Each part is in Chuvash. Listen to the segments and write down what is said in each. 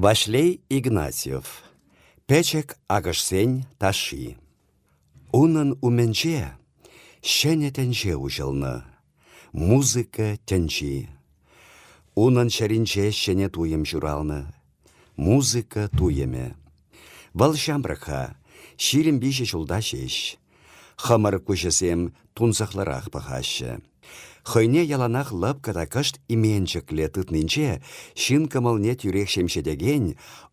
Ваҫлей Игнатьев, пӗчӗк акӑшсен ташши. Унӑн умӗнче ҫӗнӗ тӗнче уҫӑлнӑ, музыка тӗнчи. Унӑн чӗринче ҫӗнӗ туйӑм ҫуралнӑ, музыка туйӑмӗ. Вӑл ҫамрӑк-ха, ҫирӗм виҫӗ ҫулта ҫеҫ. Хӑмӑр куҫӗсем тунсӑхлӑрах пӑхаҫҫӗ. Хӑйне яланах лӑпкӑ та кӑшт именчӗклӗ тытнинче ҫын кӑмӑлне тӳрех ҫемҫетекен,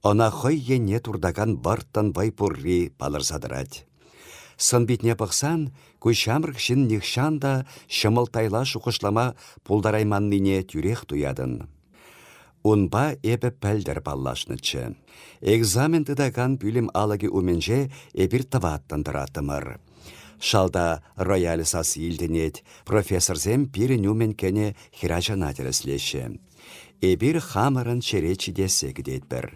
ӑна хӑй енне туртакан вӑрттӑн вӑй пурри палӑрса тӑрать. Сӑн-питне пӑхсан, ку ҫамрӑк ҫын нихҫан та ҫӑмӑлттайла шухӑшлама пултарайманнине тӳрех туятӑн. Унпа эпӗ пӗлтӗр паллашнӑччӗ. Экзамен тытакан пӳлӗм алӑкӗ умӗнче эпир тӑваттӑн тӑраттӑмӑр. Шалта рояль сасси илтӗнет, профессорсем пирӗн умӗн кӗнӗ хӗрачана тӗрӗслеҫҫӗ. Эпир хамӑрӑн черет ҫитессе кӗтетпӗр.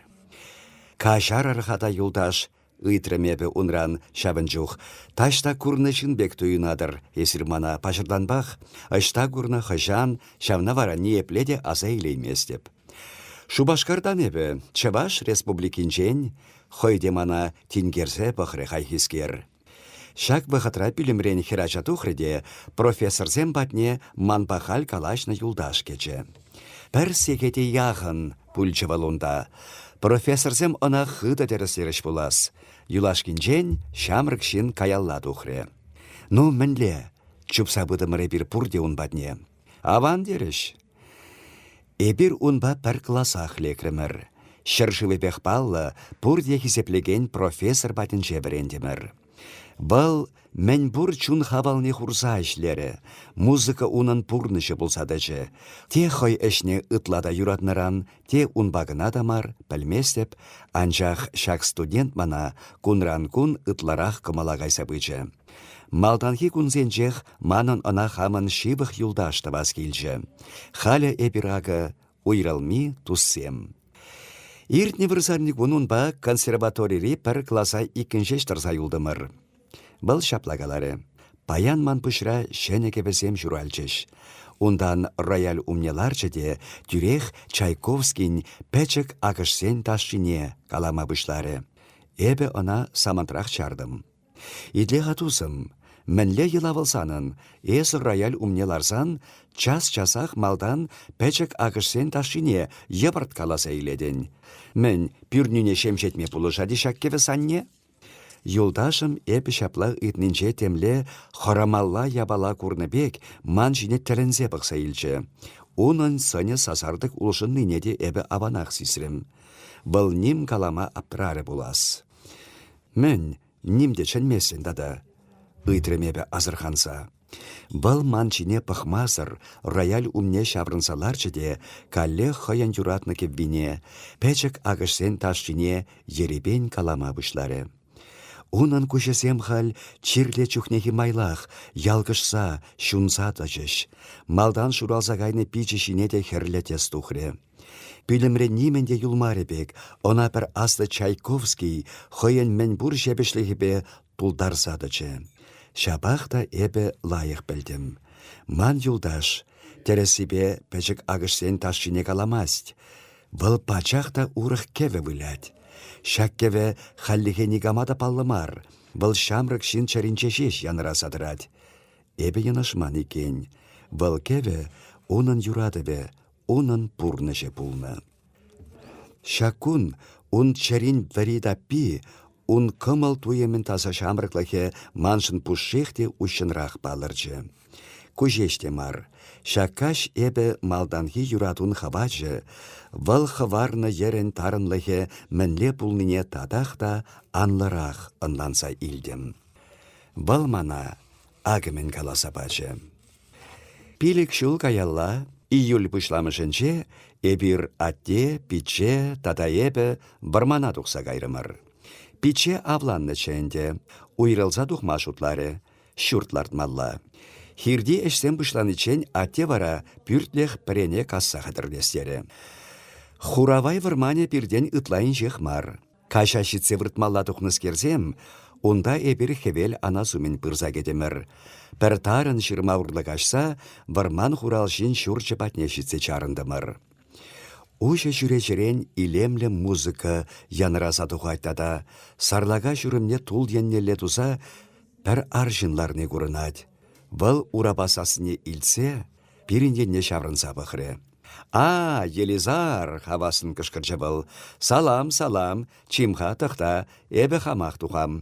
Каҫарӑр-ха та, юлташ, Ыйтрӑм эпӗ унран ҫавӑн чух. «Таҫта курнӑ ҫын пек туйӑнатӑр эсир мана, паҫӑртанпах. Ӑҫта курнӑ хӑҫан, ҫавна вара ниепле те аса илейместӗп». Шупашкартан эпӗ, Чӑваш Республикинчен, хӑй те мана тинкерсе пӑхрӗ хайхискер. Ҫак вӑхӑтра пӳлӗмрен хӗрача тухрӗ те профессорсем патне манпа халь калаҫнӑ юлташ кӗчӗ. Пӗр сехете яхӑн пулчӗ вӑл унта. Профессорсем ӑна хытӑ тӗрӗслерӗҫ пулас. Юлашкинчен ҫамрӑк ҫын каялла тухрӗ. «Ну, мӗнле? Чупса пытӑмӑр эпир пурте ун патне. Аван терӗҫ. Эпир унпа пӗр класах лекрӗмӗр. Ҫӗршывӗпех паллӑ, пурте хисеплекен профессор патӗнче вӗрентӗмӗр. Вӑл мӗнпур чун хавалне хурса ӗҫлерӗ. Музыка унӑн пурнӑҫӗ пулса тӑчӗ. Те хӑй ӗҫне ытла та юратнӑран, те унпа кӑна та мар, пӗлместӗп, анчах ҫак студент мана кунран-кун ытларах кӑмӑла кайса пычӗ. Малтанхи кунсенчех манӑн ӑна хамӑн ҫывӑх юлташ тӑвас килчӗ. Халӗ эпир акӑ уйрӑлми туссем. Иртнӗ вырсарникун унпа консерваторири пӗр класа иккӗн ҫеҫ тӑрса юлтӑмӑр. Вӑл ҫапла каларӗ. Паян ман пуҫра ҫӗнӗ кӗвӗсем ҫуралчӗҫ. Унтан рояль умне ларчӗ те тӳрех Чайковскин пӗчӗк акӑшсен ташшине калама пуҫларӗ. Эпӗ ӑна самантрах чартӑм. Итле-ха, тусӑм, мӗнле йӑла вӑл санӑн? Эсӗ рояль умне ларсан час-часах малтан пӗчӗк акӑшсен ташшине йӑпӑрт каласа илетӗн. Мӗн, пӳрнӳне ҫемҫетме пулӑшать-и ҫак кӗвӗ санне? Юлташӑм эпӗ ҫапла ыйтнинче темле хӑрамалла япала курнӑ пек ман ҫине тӗлӗнсе пӑхса илчӗ. Унӑн сӑнӗ сасартӑк улшӑннине те эпӗ аванах сисрӗм. Вӑл ним калама аптӑрарӗ пулас. Мӗн, ним те чӗнместӗн тата? ыйтрӑм эпӗ асӑрханса. Вӑл ман ҫине пӑхмасӑр рояль умне ҫаврӑнса ларчӗ те каллех хӑйӗн юратнӑ кӗввине, пӗчӗк акӑшсен ташшине ерипен калама пуҫларӗ. Унӑн куҫӗсем халь чирле чухнехи майлах, ялкӑшса, ҫунса тӑчӗҫ. Малтан шуралса кайнӑ пичӗ ҫине те хӗрлӗ тӗс тухрӗ. Пӳлӗмре нимӗн те юлмарӗ пек, ӑна пӗр аслӑ Чайковский хӑйӗн мӗнпур ҫепӗҫлӗхӗпе тултарса тӑчӗ. Ҫапах та эпӗ лайӑх пӗлтӗм. Ман юлташ, тӗрӗссипе, пӗчӗк акӑшсен ташшине каламасть. Вӑл пачах та урӑх кӗвӗ вылять. Ҫак кӗвӗ хальлӗхе никама та паллӑ мар. Вӑл ҫамрӑк ҫын чӗринче ҫеҫ янраса тӑрать. Эпӗ йӑнӑшман иккен. Вӑл кӗвӗ унӑн юратӑвӗ, унӑн пурнӑҫӗ пулнӑ. Ҫак кун ун чӗрин вӗри таппи, ун кӑмӑл туйӑмӗн таса ҫамрӑклӑхӗ маншӑн пушшех те уҫҫӑнрах палӑрчӗ. Ку ҫеҫ те мар, ҫак каҫ эпӗ малтанхи юратун хӑвачӗ, вӑл хӑварнӑ йӗрӗн тарӑнлӑхӗ мӗнле пулнине татах та анлӑрах ӑнланса илтӗм. Вӑл мана акӑмӗн каласа пачӗ. Пилӗк ҫул каялла, июль пуҫламӑшӗнче, эпир атте, пичче тата эпӗ вӑрмана тухса кайрӑмӑр. Пичче авланнӑччӗ ӗнтӗ, уйрӑлса тухма шутларӗ, ҫурт лартмалла. Хирти ӗҫсем пуҫланиччен атте вара пӳртлӗх пӗрене касса хатӗрлес терӗ. Хуравай вӑрманӗ пиртен ытла инҫех мар. Каҫа ҫитсе выртмалла тухнӑскерсем, унта эпир хӗвел анас умӗн пырса кӗтӗмӗр. Пӗр тарӑн ҫырма урлӑ каҫса вӑрман хуралҫин ҫурчӗ патне ҫитсе чарӑнтӑмӑр. Уҫӑ чӳречерен илемлӗ музыка янраса тухать тата сарлака ҫурӑмне тул еннелле туса пӗр арҫын ларни курӑнать. Вӑл урапа сассине илтсе пирӗн енне ҫаврӑнса пӑхрӗ. «А, Елизар!» — хавассӑн кӑшкӑрчӗ вӑл. «Салам, салам! Чим-ха, тӑхта, эпӗ хамах тухам».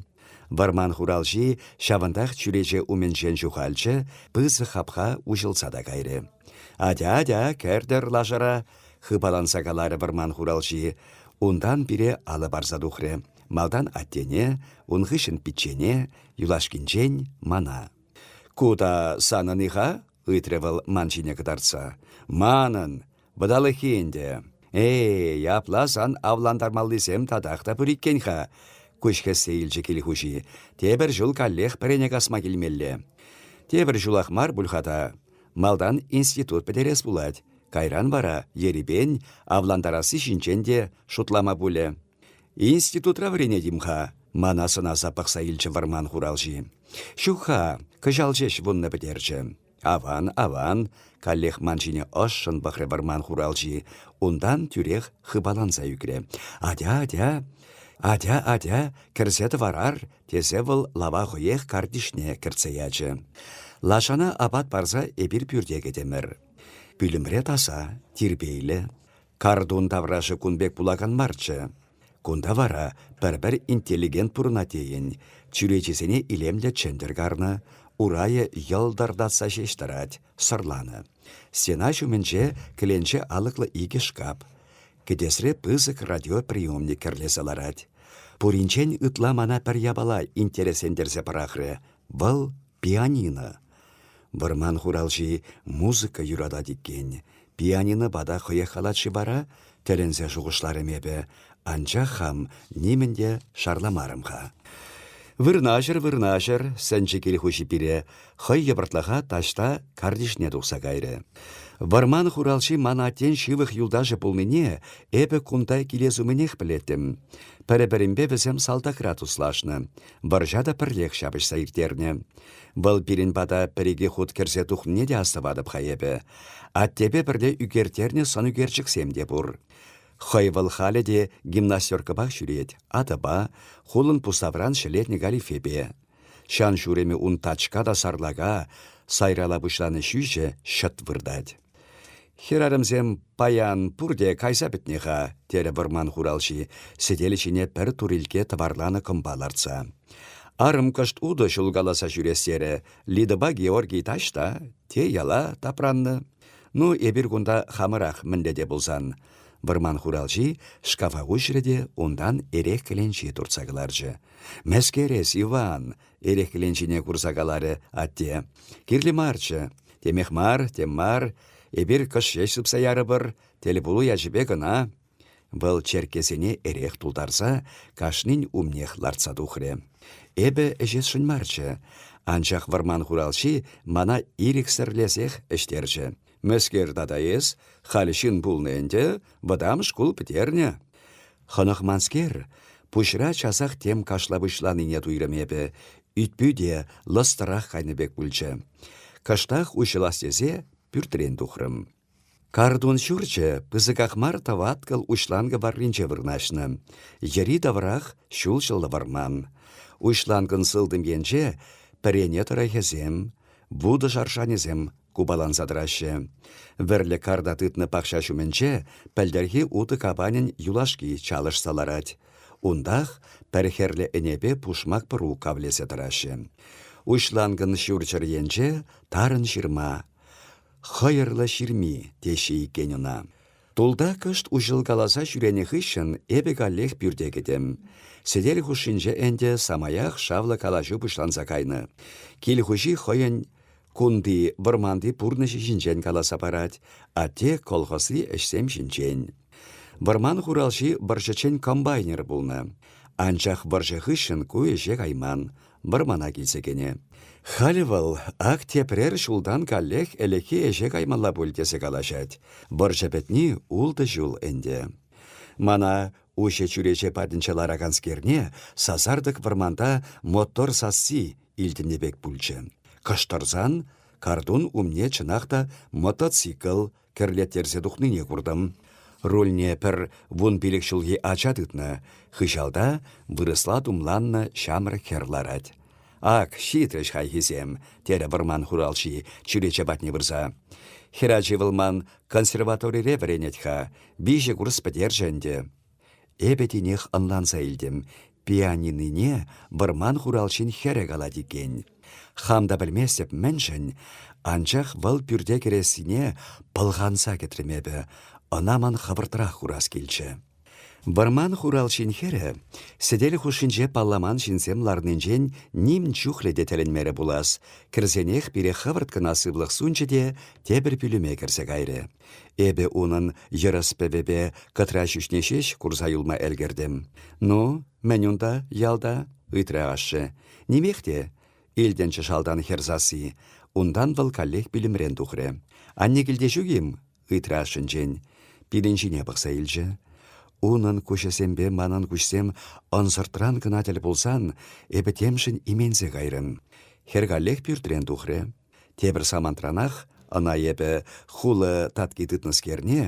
Вӑрман хуралҫи ҫавӑнтах чӳрече умӗнчен ҫухалчӗ, пысӑк хапха уҫӑлса та кайрӗ. «Атя, атя, кӗртӗр лашӑра!» — хыпаланса каларӗ вӑрман хуралҫи. Унтан пире алӑ парса тухрӗ. Малтан аттене, ун хыҫҫӑн пиччене, юлашкинчен мана. Ку та санӑн-и-ха? — ыйтрӗ вӑл ман ҫине кӑтартса. — Манӑн. Вӑталӑххи ӗнтӗ. Эй, апла сан авлантармаллисем татах та пур иккен-ха. Куҫ хӗссе илчӗ кил хуҫи. Тепӗр ҫул каллех пӗрене касма килмелле. Тепӗр ҫулах мар пуль-ха та. Малтан институт пӗтерес пулать. Кайран вара ерипен авлантарасси ҫинчен те шутлама пулӗ. Институтра вӗренетим-ха, мана сӑнаса пӑхса илчӗ вӑрман хуралҫи. Ҫук-ха, кӑҫал ҫеҫ вуннӑ пӗтерчӗ. Аван, аван, каллех ман ҫине ӑшшӑн пӑхрӗ вӑрман хуралҫи, унтан тӳрех хыпаланса ӳкрӗ. Атя, атя, атя, атя, кӗрсе тӑварар, тесе вӑл лава хӑех картишне кӗртсе ячӗ. Лашана апат парса эпир пӳрте кӗтӗмӗр. Пӳлӗмре таса, тирпейлӗ. Картун таврашӗ кун пек пулакан марччӗ. Кунта вара пӗр-пӗр интеллигент пурӑнать тейӗн. Чӳречисене илемлӗ чӗнтӗр карнӑ, урайӗ йӑлтӑртатса ҫеҫ тӑрать, сӑрланӑ. Стена ҫумӗнче кӗленче алӑклӑ икӗ шкаф. Кӗтесре пысӑк радиоприемник кӗрлесе ларать. Пуринчен ытла мана пӗр япала интереслентерсе пӑрахрӗ. Вӑл пианино. Вӑрман хуралҫи музыка юратать иккен. Пианинопа та хӑех калать-ши вара? тӗлӗнсе шухӑшларӑм эпӗ. Анчах хам нимӗн те шарламарӑм-ха. Вырнаҫӑр, вырнаҫӑр, сӗнчӗ кил хуҫи пире, хӑй йӑпӑртлаха таҫта картишне тухса кайрӗ. Вӑрман хуралҫи ман аттен ҫывӑх юлташӗ пулнине эпӗ кунта килес умӗнех пӗлеттӗм. Пӗр-пӗринпе вӗсем салтакра туслашнӑ. Вӑрҫа та пӗрлех ҫапӑҫса ирттернӗ. Вӑл пирӗн пата пӗр-икӗ хут кӗрсе тухнине те астӑватӑп-ха эпӗ. Аттепе пӗрле ӳкерттернӗ сӑнӳкерчӗксем те пур. Хӑй вӑл халӗ те гимнастеркӑпах ҫӳрет, атӑпа, хулӑн пуставран ҫӗлетнӗ галифепе. Ҫан ҫурӑмӗ ун тачка та сарлака, сайрала пуҫланӑ ҫӳҫӗ ҫӑт выртать. Хӗрарӑмсем «Паян пурте кайса пӗтнӗ-ха», терӗ вӑрман хуралҫи, сӗтел ҫине пӗр турилкке тӑварланӑ кӑмпа лартса. «Арӑм кӑшт утӑ ҫулкаласа ҫӳрес терӗ. Лидӑпа Георгий таҫта, те яла тапраннӑ. Ну, эпир кунта хамӑрах мӗнле те пулсан». Вӑрман хуралҫи шкафа уҫрӗ те унтан эрех кӗленчи туртса кӑларчӗ. «Мӗскерес, Иван!» эрехленҫине курса каларӗ атте. Кирлӗ марччӗ. Темех мар, тем мар, эпир кӑш ҫеҫ сыпса ярӑпӑр, тӗлпулу ячӗпе кӑна. Вӑл черккесене эрех тултарса кашнин умнех лартса тухрӗ. Эпӗ ӗҫесшӗн марччӗ, анчах вӑрман хуралҫи мана ирӗксӗрлесех ӗҫтерчӗ. Мӗскер тата эс? Халь ҫын пулнӑ ӗнтӗ, вӑтам шкул пӗтернӗ. Хӑнӑхманскер, пуҫра часах тем кашла пуҫланине туйрӑм эпӗ. Ӳт-пӳте лӑстӑрах кайнӑ пек пулчӗ. Кӑштах уҫӑлас тесе пӳртрен тухрӑм. Картун ҫурчӗ пысӑках мар тӑваткӑл уҫланкӑ варринче вырнаҫнӑ. Йӗри-таврах ҫулҫӑллӑ вӑрман. Уҫланкӑн сылтӑм енче пӗрене тӑрӑхӗсем, вутӑ шаршанӗсем купаланса тӑраҫҫӗ. Вӗрлӗ карта тытнӑ пахча ҫумӗнче пӗлтӗрхи утӑ капанӗн юлашки чалӑшса ларать. Унтах пӗр хӗрлӗ ӗнепе пушмак пӑру кавлесе тӑраҫҫӗ. Уҫланкӑн ҫурҫӗр енче тарӑн ҫырма. Хӑйӑрлӑ ҫырми, теҫҫӗ иккен ӑна. Тулта кӑшт уҫӑлкаласа ҫӳренӗ хыҫҫӑн эпӗ каллех пӳрте кӗтӗм. Сӗтел хушшинче ӗнтӗ самаях шавлӑ калаҫу пуҫланса кайнӑ. Кил хуҫи хӑйӗн Кунти, вӑрманти пурнӑҫӗ ҫинчен каласа парать, атте колхозри ӗҫсем ҫинчен. Вӑрман хуралҫи вӑрҫӑччен комбайнер пулнӑ. Анчах вӑрҫӑ хыҫҫӑн ку ӗҫе кайман, вӑрмана килсе кӗнӗ. Халь вӑл ак тепрер ҫултан каллех ӗлӗкхи ӗҫе каймалла пуль тесе калаҫать. Вӑрҫӑ пӗтни ултӑ ҫул ӗнтӗ. Мана Уҫӑ чӳрече патӗнче лараканскерне сасартӑк вӑрманта мотор сасси илтӗннӗ пек пулчӗ. Кӑштӑрсан картун умне чӑнах та мотоцикл кӗрлеттерсе тухнине куртӑм. Рульне пӗр вун пилӗк ҫулхи ача тытнӑ. Хыҫалта вырӑсла тумланнӑ ҫамрӑк хӗр ларать. Ак, ҫитӗҫ хайхисем, терӗ вӑрман хуралҫи, чӳрече патне пырса. Хӗрачи вӑл ман консерваторире вӗренет-ха, виҫӗ курс пӗтерчӗ ӗнтӗ. Эпӗ тинех ӑнланса илтӗм, пианинине вӑрман хуралҫин хӗрӗ калать иккен. Хам та пӗлместӗп мӗншӗн, анчах вӑл пӳрте кӗрессине пӑлханса кӗтрӗм эпӗ, ӑна ман хӑвӑртрах курас килчӗ. Вӑрман хуралҫин хӗрӗ сӗтел хушшинче палламан ҫынсем ларнинчен ним чухлӗ те тӗлӗнмерӗ пулас, кӗрсенех пире хӑвӑрт кӑна сывлӑх сунчӗ те тепӗр пӳлӗме кӗрсе кайрӗ. Эпӗ унӑн йӑрӑс пӗвӗпе кӑтра ҫӳҫне ҫеҫ курса юлма ӗлкӗртӗм. «Ну, мӗн унта, ялта?» — ыйтрӗ ашшӗ. «Нимех те, илтӗнчӗ шалтан хӗр сасси. Унтан вӑл каллех пӳлӗмрен тухрӗ. «Анне килте ҫук-им?» ыйтрашӑнчен пирӗн ҫине пӑхса илчӗ. Унӑн куҫӗсемпе манӑн куҫсем ӑнсӑртран кӑна тӗл пулсан, эпӗ темшӗн именсе кайрӑм. Хӗр каллех пӳртрен тухрӗ. Тепӗр самантранах ӑна эпӗ хулӑ татки тытнӑскерне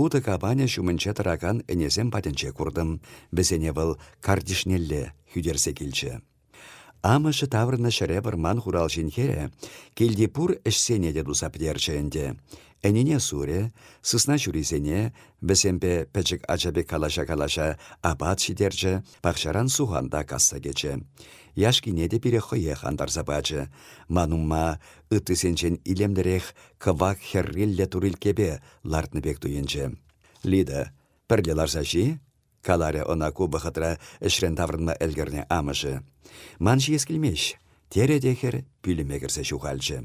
утӑ капанӗ ҫумӗнче тӑракан ӗнесем патӗнче куртӑм. Вӗсене вӑл картишнелле хӳтерсе килчӗ. Амӑшӗ таврӑннӑ ҫӗре вӑрман хуралҫин хӗрӗ килти пур ӗҫсене те туса пӗтерчӗ ӗнтӗ. Ӗнине сурӗ, сысна ҫурисене, вӗсемпе пӗчӗк ача пек калаҫа-калаҫа апат ҫитерчӗ, пахчаран сухан та касса кӗчӗ. Яшкине те пире хӑех антарса пачӗ. Ман умма ыттисенчен илемлӗрех кӑвак хӗрриллӗ турилкепе лартнӑ пек туйӑнчӗ. Лида, пӗрле ларса ҫи, каларӗ ӑна ку вӑхӑтра ӗҫрен таврӑнма ӗлкӗрнӗ амӑшӗ. «Ман ҫиес килмест», — терӗ те хӗр пӳлӗме кӗрсе ҫухалчӗ.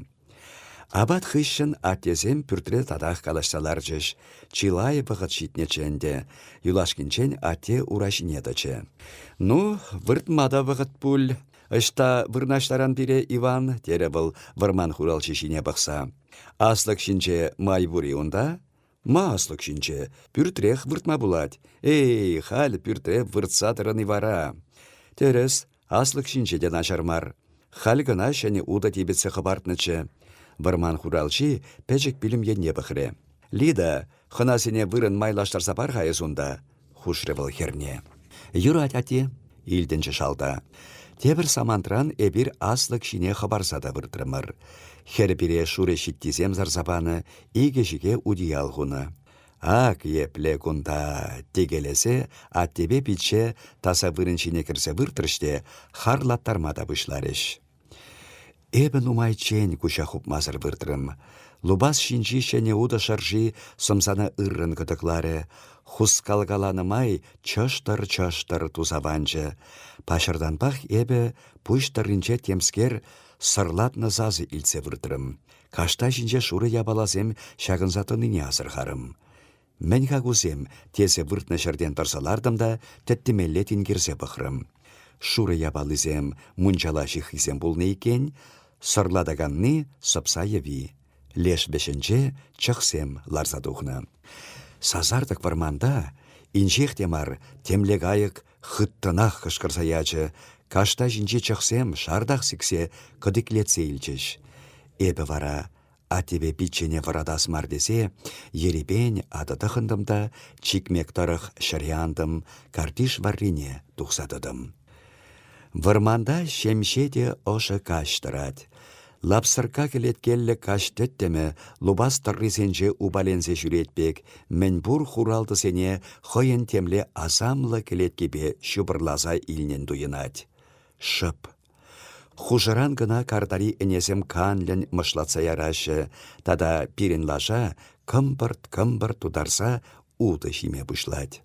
Апат хыҫҫӑн аттесем пӳртре татах калаҫса ларчӗҫ. Чылай вӑхӑт ҫитнӗччӗ ӗнтӗ. Юлашкинчен атте ура ҫине тӑчӗ. «Ну, выртма та вӑхӑт пуль. Ӑҫта вырнаҫтаран пире, Иван?» терӗ вӑл вӑрман хуралҫи ҫине пӑхса. «Аслӑк ҫинче май пур-и унта?» Маслӑк ҫинче пӳртрех выртма пулать. Эй, халь пӳртре выртса тӑрӑн-и вара? Тӗрӗс, аслӑк ҫинче те начар мар. Халь кӑна ҫӗнӗ утӑ типӗтсе хӑпартнӑччӗ. Вӑрман хуралҫи пӗчӗк пӳлӗм енне пӑхрӗ. Лида, хӑнасене вырӑн майлаштарса пар-ха эс унта. хушрӗ вӑл хӗрне. «Юрать, атте», — илтӗнчӗ шалта. «Тепӗр самантран эпир аслӑк ҫине хӑпарса та выртрӑмӑр. Хӗр пире шурӑ ҫиттисем сарса панӑ, икӗ ҫике утиял хунӑ. «Ак епле кунта!» текелесе аттепе пичче таса вырӑн ҫине кӗрсе выртрӗҫ те харлаттарма та пуҫларӗҫ. Эпӗ нумайччен куҫа хупмасӑр выртрӑм. Лупас ҫинчи ҫӗнӗ утӑ шӑрши сӑмсана ыррӑн кӑтӑкларӗ. Хускалкаланӑ май чӑштӑр-чӑштӑр туса ванчӗ. Паҫӑртанпах эпӗ пуҫ тӑрринче темскер сӑрлатнӑ сасӑ илтсе выртрӑм. Кашта ҫинче шурӑ япаласем ҫакӑнса тӑнине асӑрхарӑм. Мӗн-ха кусем? тесе выртнӑ ҫӗртен тӑрса лартӑм та тӗттӗмелле тинкерсе пӑхрӑм. Шурӑ япалисем, мунчала ҫыххисем пулнӑ иккен, сӑрлатаканни сӑпса йӑви. Леш вӗҫӗнче чӑхсем ларса тухнӑ. Сасартӑк вӑрманта, инҫех те мар, темле кайӑк хыттӑнах кӑшкӑрса ячӗ, кашта ҫинчи чӑхсем шартах сиксе кӑтиклетсе илчӗҫ. Эпӗ вара Аттепе пиччене вӑратас мар тесе ерипен атӑ тӑхӑнтӑм та чикмек тӑрӑх ҫӗре антӑм, картиш варрине тухса тӑтӑм. Вӑрманта ҫемҫе те ӑшӑ каҫ тӑрать. Лапсӑркка кӗлеткеллӗ каҫ тӗттӗмӗ лупас тӑррисенче упаленсе ҫӳрет пек мӗнпур хуралтӑсене хӑйӗн темле асамлӑ кӗлеткипе ҫупӑрласа илнӗн туйӑнать. Шӑп Хушӑран кӑна картари ӗнесем канлӗн мӑшлатса яраҫҫӗ тата пирӗн лаша кӑмпӑрт-кӑмпӑрт тутарса утӑ ҫиме пуҫлать.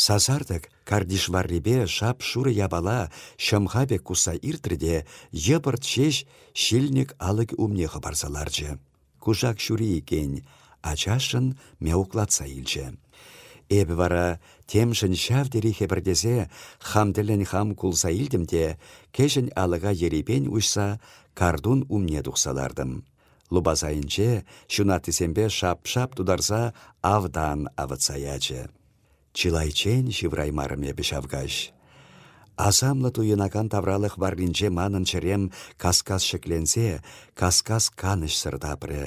Сасартӑк картиш варрипе шап-шурӑ япала ҫӑмха пек кусса иртрӗ те йӑпӑрт ҫеҫ ҫилник алӑкӗ умне хӑпарса ларчӗ. Кушак ҫури иккен, ачашшӑн мяуклатса илчӗ. Эпӗ вара, темшӗн ҫав тери хӗпӗртесе, хам тӗллӗн хам кулса илтӗм те кӗҫӗн алӑка ерипен уҫса картун умне тухса лартӑм. Лупасайӗнче ҫунаттисемпе шап-шап тутарса автан авӑтса ячӗ. Чылайччен ҫывраймарӑм эпӗ ҫав каҫ. Асамлӑ туйӑнакан тавралӑх варринче манӑн чӗрем кас-кас ҫӗкленсе, кас-кас канӑҫсӑр тапрӗ.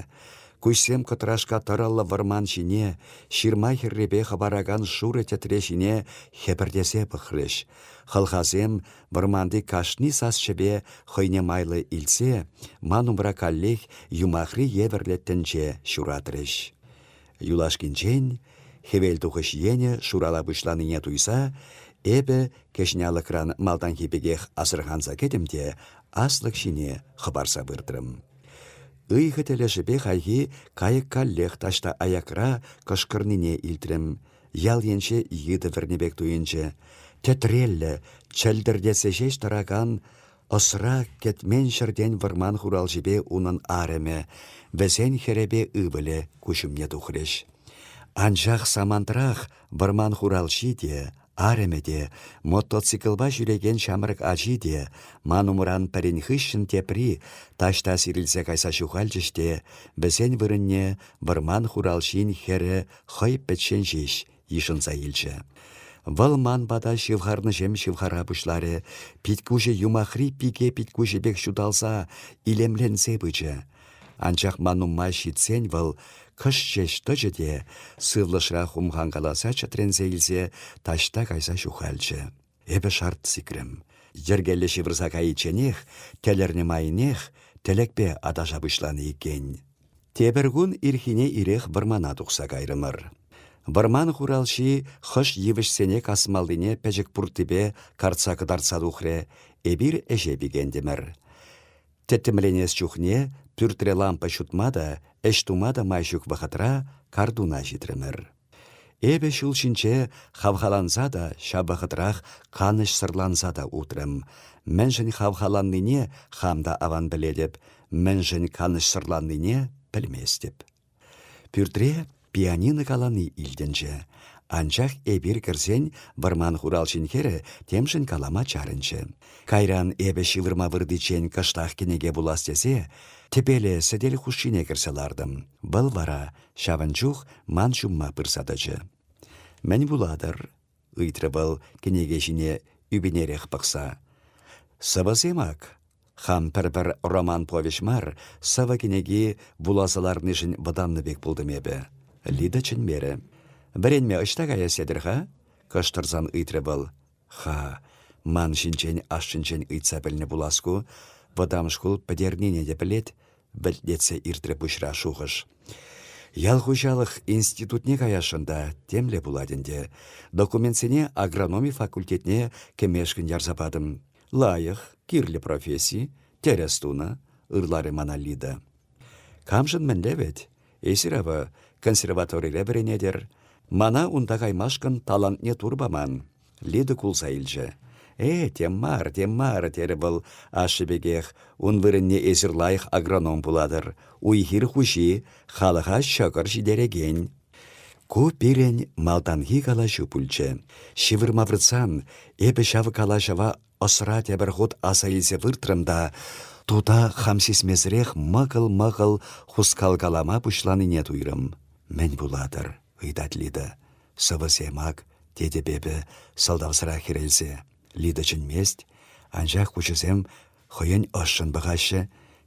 Куҫсем кӑтрашка тӑрӑллӑ вӑрман ҫине, ҫырма хӗррипе хӑпаракан шурӑ тӗтре ҫине хӗпӗртесе пӑхрӗҫ. Хӑлхасем вӑрманти кашни сасҫӗпе хӑйне майлӑ илтсе, ман умра каллех юмахри евӗрлӗ тӗнче ҫуратрӗҫ. Юлашкинчен, хӗвелтухӑҫ енӗ шурала пуҫланине туйса, эпӗ кӗҫне алӑкран малтанхи пекех асӑрханса кӗтӗм те аслӑк ҫине хӑпарса выртрӑм. Ыйхӑ тӗлӗшӗпе хайхи кайӑк каллех таҫта аякра кӑшкӑрнине илтрӗм. Ял енче йытӑ вӗрнӗ пек туйӑнчӗ. Тӗтреллӗ, чӗлтӗртетсе ҫеҫ тӑракан Ӑсра кӗтмен ҫӗртен вӑрман хуралҫипе унӑн арӑмӗ, вӗсен хӗрӗпе ывӑлӗ куҫӑмне тухрӗҫ. Анчах самантрах вӑрман хуралҫи те, арӑмӗ те, мотоциклпа ҫӳрекен ҫамрӑк ачи те, ман умран пӗрин хыҫҫӑн тепри, таҫта сирӗлсе кайса ҫухалчӗҫ те, вӗсен вырӑнне вӑрман хуралҫин хӗрӗ хӑй пӗччен ҫеҫ йышӑнса илчӗ. Вӑл ман пата ҫывхарнӑҫем ҫывхара пуҫларӗ, питкуҫӗ юмахри пике питкуҫӗ пек ҫуталса, илемленсе пычӗ. Анчах ман умма ҫитсен вӑл кӑш ҫеҫ тӑчӗ те, сывлӑшра хумханкаласа чӗтренсе илсе, таҫта кайса ҫухалчӗ. Эпӗ шарт сикрӗм. Йӗркеллӗ ҫывӑрса кайичченех, тӗлӗрнӗ майнех, тӗлӗкпе аташа пуҫланӑ иккен. Тепӗр кун ирхине ирех вӑрмана тухса кайрӑмӑр. Вӑрман хуралҫи хӑш йывӑҫсене касмаллине пӗчӗк пурттипе картса кӑтартса тухрӗ, эпир ӗҫе пикентӗмӗр. Тӗттӗмленес чухне пӳртре лампа ҫутма та, ӗҫ тума та май ҫук вӑхӑтра картуна ҫитрӗмӗр. Эпӗ ҫул ҫинче хавхаланса та, ҫав вӑхӑтрах канӑҫсӑрланса та утрӑм. Мӗншӗн хавхаланнине хам та аван пӗлетӗп, мӗншӗн канӑҫсӑрланнине пӗлместӗп. Пӳртре пианино калани илтӗнчӗ. Анчах эпир кӗрсен вӑрман хуралҫин хӗрӗ темшӗн калама чарӑнчӗ. Кайран эпӗ ҫывӑрма выртиччен кӑштах кӗнеке вулас тесе тӗпеле сӗтел хушшине кӗрсе лартӑм. Вӑл вара Ҫавӑн чух ман ҫумма пырса тӑчӗ. «Мӗн вулатӑр?» — ыйтрӗ вӑл кӗнеке ҫине ӳпӗнерех пӑхса. «Сӑвӑсем ак. Хам пӗр-пӗр роман-повеҫ мар, сӑвӑ кӗнеки вуласа ларнишӗн вӑтаннӑ пек пултӑм эпӗ». Лида чӗнмерӗ. «Вӗренме ӑҫта каяс тетӗр-ха?» — кӑштӑрсан ыйтрӗ вӑл. Ха, ман ҫинчен ашшӗнчен ыйтса пӗлнӗ пулас ку, вӑтам шкул пӗтернине те пӗлет, вӗлтлетсе иртрӗ пуҫра шухӑш. Ял хуҫалӑх институтне каясшӑн та темле пулать ӗнтӗ. Документсене агрономи факультетне кӗмешкӗн ярса патӑм. Лайӑх, кирлӗ професси, тӗрӗс тунӑ, ырларӗ мана Лида. Камшӑн мӗнле вӗт? Эсир ӑвӑ консерваторире вӗренетӗр. Мана унта каймашкӑн талантне тур паман. Лида кулса илчӗ. «Э, тем мар, тем мар», — терӗ вӑл ашшӗ пекех. «Ун вырӑнне эсир лайӑх агроном пулатӑр, уй-хир хуҫи, халӑха ҫӑкӑр ҫитерекен». Ку пирӗн малтанхи калаҫу пулчӗ. Ҫывӑрма выртсан эпӗ ҫав калаҫӑва Ӑсра тепӗр хут аса илсе выртрӑм та тута хам сисмесӗрех мӑкӑл-мӑкӑл хускалкалама пуҫланине туйрӑм. «Мӗн пулатӑр?» — ыйтать Лида. «Сӑвӑсем ак», — тетӗп эпӗ, сӑлтавсӑра хӗрелсе. Лида чӗнмест, анчах куҫӗсем хӑйӗн ӑшшӑн пӑхаҫҫӗ.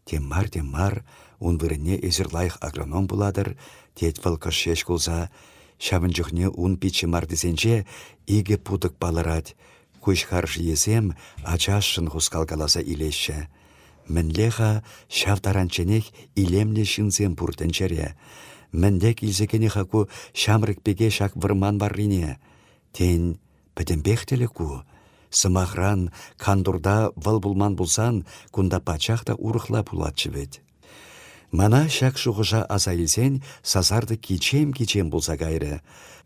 Тем мар, тем мар, ун вырӑнне эсир лайӑх агроном пулатӑр, тет вӑл кӑш ҫеҫ кулса. Ҫавӑн чухне ун пит ҫӑмартисенче икӗ путӑк палӑрать. Куҫ харшийӗсем ачашшӑн хускалкаласа илеҫҫӗ. Мӗнле-ха ҫав таранчченех илемлӗ ҫынсем пур тӗнчере? Мӗнле килсе кӗнӗ-ха ку ҫамрӑк пеке ҫак вӑрман варрине? Тен, Пӗтӗмпех тӗлӗк ку. Сӑмахран, кантурта вӑл пулман пулсан, кунта пачах та урӑхла пулатчӗ вӗт. Мана ҫак шухӑша аса илсен сасартӑк кичем-кичем пулса кайрӗ.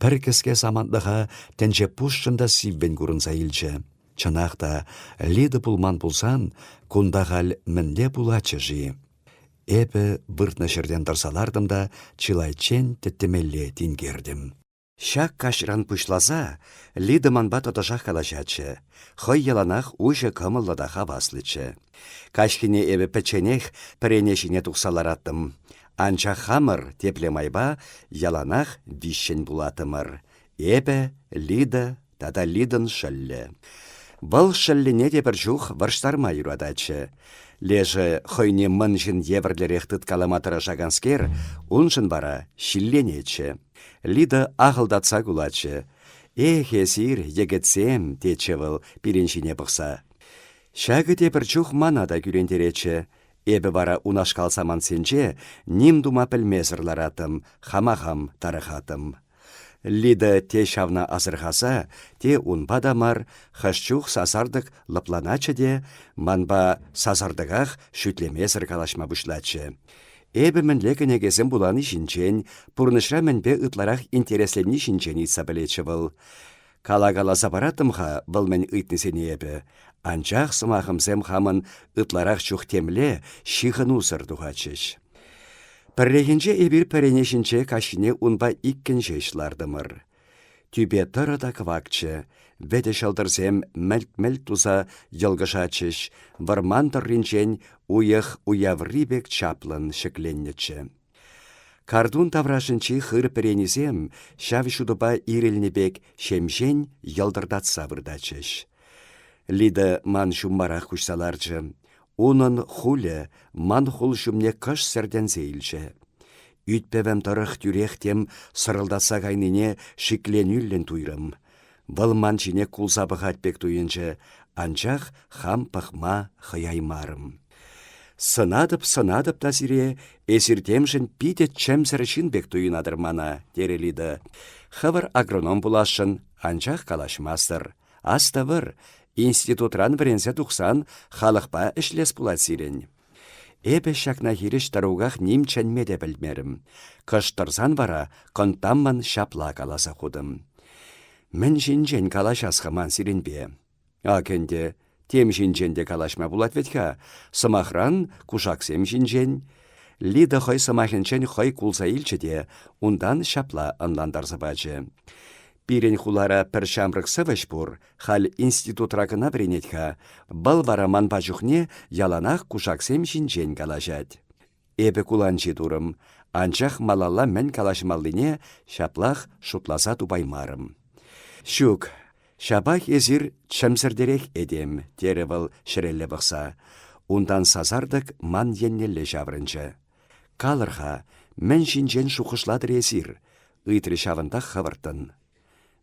Пӗр кӗске самантлӑха тӗнче пушшӑн та сиввӗн курӑнса илчӗ. Чӑнах та, Лида пулман пулсан, кунта халь мӗнле пулатчӗ-ши? Эпӗ выртнӑ ҫӗртен тӑрса лартӑм та чылайччен тӗттӗмелле тинкертӗм. Ҫак каҫран пуҫласа Лида манпа тӑтӑшах калаҫатчӗ. Хӑй яланах уҫӑ кӑмӑллӑ та хаваслӑччӗ. Каҫхине эпӗ пӗчченех пӗрене ҫине тухса лараттӑм. Анчах хамӑр тепле майпа яланах виҫҫӗн пулаттӑмӑр. Эпӗ, Лида, тата Лидӑн шӑллӗ. Вӑл шӑллӗне те пӗр чух вӑрҫтарма юрататчӗ. Лешӗ хӑйне мӑн ҫын евӗрлӗрех тыткалама тӑрӑшаканскер, уншӑн вара ҫилленетчӗ. Лида ахӑлтатса кулатчӗ. «Эх, эсир, йӗкӗтсем!» тетчӗ вӑл пирӗн ҫине пӑхса. Ҫакӑ те пӗр чух мана та кӳрентеретчӗ. Эпӗ вара унашкал самантсенче ним тума пӗлмесӗр лараттӑм, хама хам тарӑхаттӑм. Лида те ҫавна асӑрхаса, те унпа та мар, хӑш чух сасартӑк лӑпланатчӗ те манпа сасартӑках шӳтлемесӗр калаҫма пуҫлатчӗ. Эпӗ мӗнле кӗнекесем вулани ҫинчен, пурнӑҫра мӗнпе ытларах интересленни ҫинчен ыйтса пӗлетчӗ вӑл. Калакаласа параттӑм-ха вӑл мӗн ыйтнисене эпӗ, анчах сӑмахӑмсем хамӑн ытларах чух темле ҫыхӑнусӑр тухатчӗҫ. Пӗррехинче эпир пӗрене ҫинче каҫхине унпа иккӗн ҫеҫ лартӑмӑр. Тӳпе тӑрӑ та кӑвакчӗ, вӗтӗ ҫӑлтӑрсем мӗлт-мӗлт туса йӑлкӑшатчӗҫ, вӑрман тӑрринчен уйӑх уяври пек чаплӑн ҫӗкленнӗччӗ. Картун таврашӗнчи хыр пӗренисем ҫав ҫутӑпа ирӗлнӗ пек ҫемҫен йӑлтӑртатса выртатчӗҫ. Лида ман ҫуммарах куҫса ларчӗ. Унӑн хулӗ ман хул ҫумне кӑш сӗртӗнсе илчӗ. Ӳт-пӗвӗм тӑрӑх тӳрех тем сӑрӑлтатса кайнине шикленӳллӗн туйрӑм. Вӑл ман ҫине кулса пӑхать пек туйӑнчӗ, анчах хам пӑхма хӑяймарӑм. Сӑнатӑп, сӑнатӑп та сире, эсир темшӗн питӗ чӗмсӗр ҫын пек туйӑнатӑр мана, терӗ Лида. Хӑвӑр агроном пуласшӑн, анчах калаҫмастӑр. Астӑвӑр, институтран вӗренсе тухсан халӑхпа ӗҫлес пулать сирӗн. Эпӗ ҫакна хирӗҫ тӑруках ним чӗнме те пӗлмерӗм. Кӑшт тӑрсан вара кӑнттаммӑн ҫапла каласа хутӑм. Мӗн ҫинчен калаҫас-ха ман сирӗнпе? Ак ӗнтӗ, тем ҫинчен те калаҫма пулать вӗт-ха, сӑмахран, кушаксем ҫинчен. Лида хӑй сӑмахӗнчен хӑй кулса илчӗ те унтан ҫапла ӑнлантарса пачӗ. Пирӗн хулара пӗр ҫамрӑк сӑвӑҫ пур, халь институтра кӑна вӗренет-ха. Вӑл вара манпа чухне яланах кушаксем ҫинчен калаҫать. Эпӗ куланҫи турӑм, анчах малалла мӗн калаҫмаллине ҫаплах шутласа тупаймарӑм. «Ҫук, ҫапах эсир чӗмсӗртерех этем», – терӗ вӑл ҫӗрелле пӑхса. Унтан сасартӑк ман еннелле ҫаврӑнчӗ. «Калӑр-ха, мӗн ҫинчен шухӑшлатӑр эсир?» – ыйтрӗ ҫавӑнтах хӑвӑрттӑн.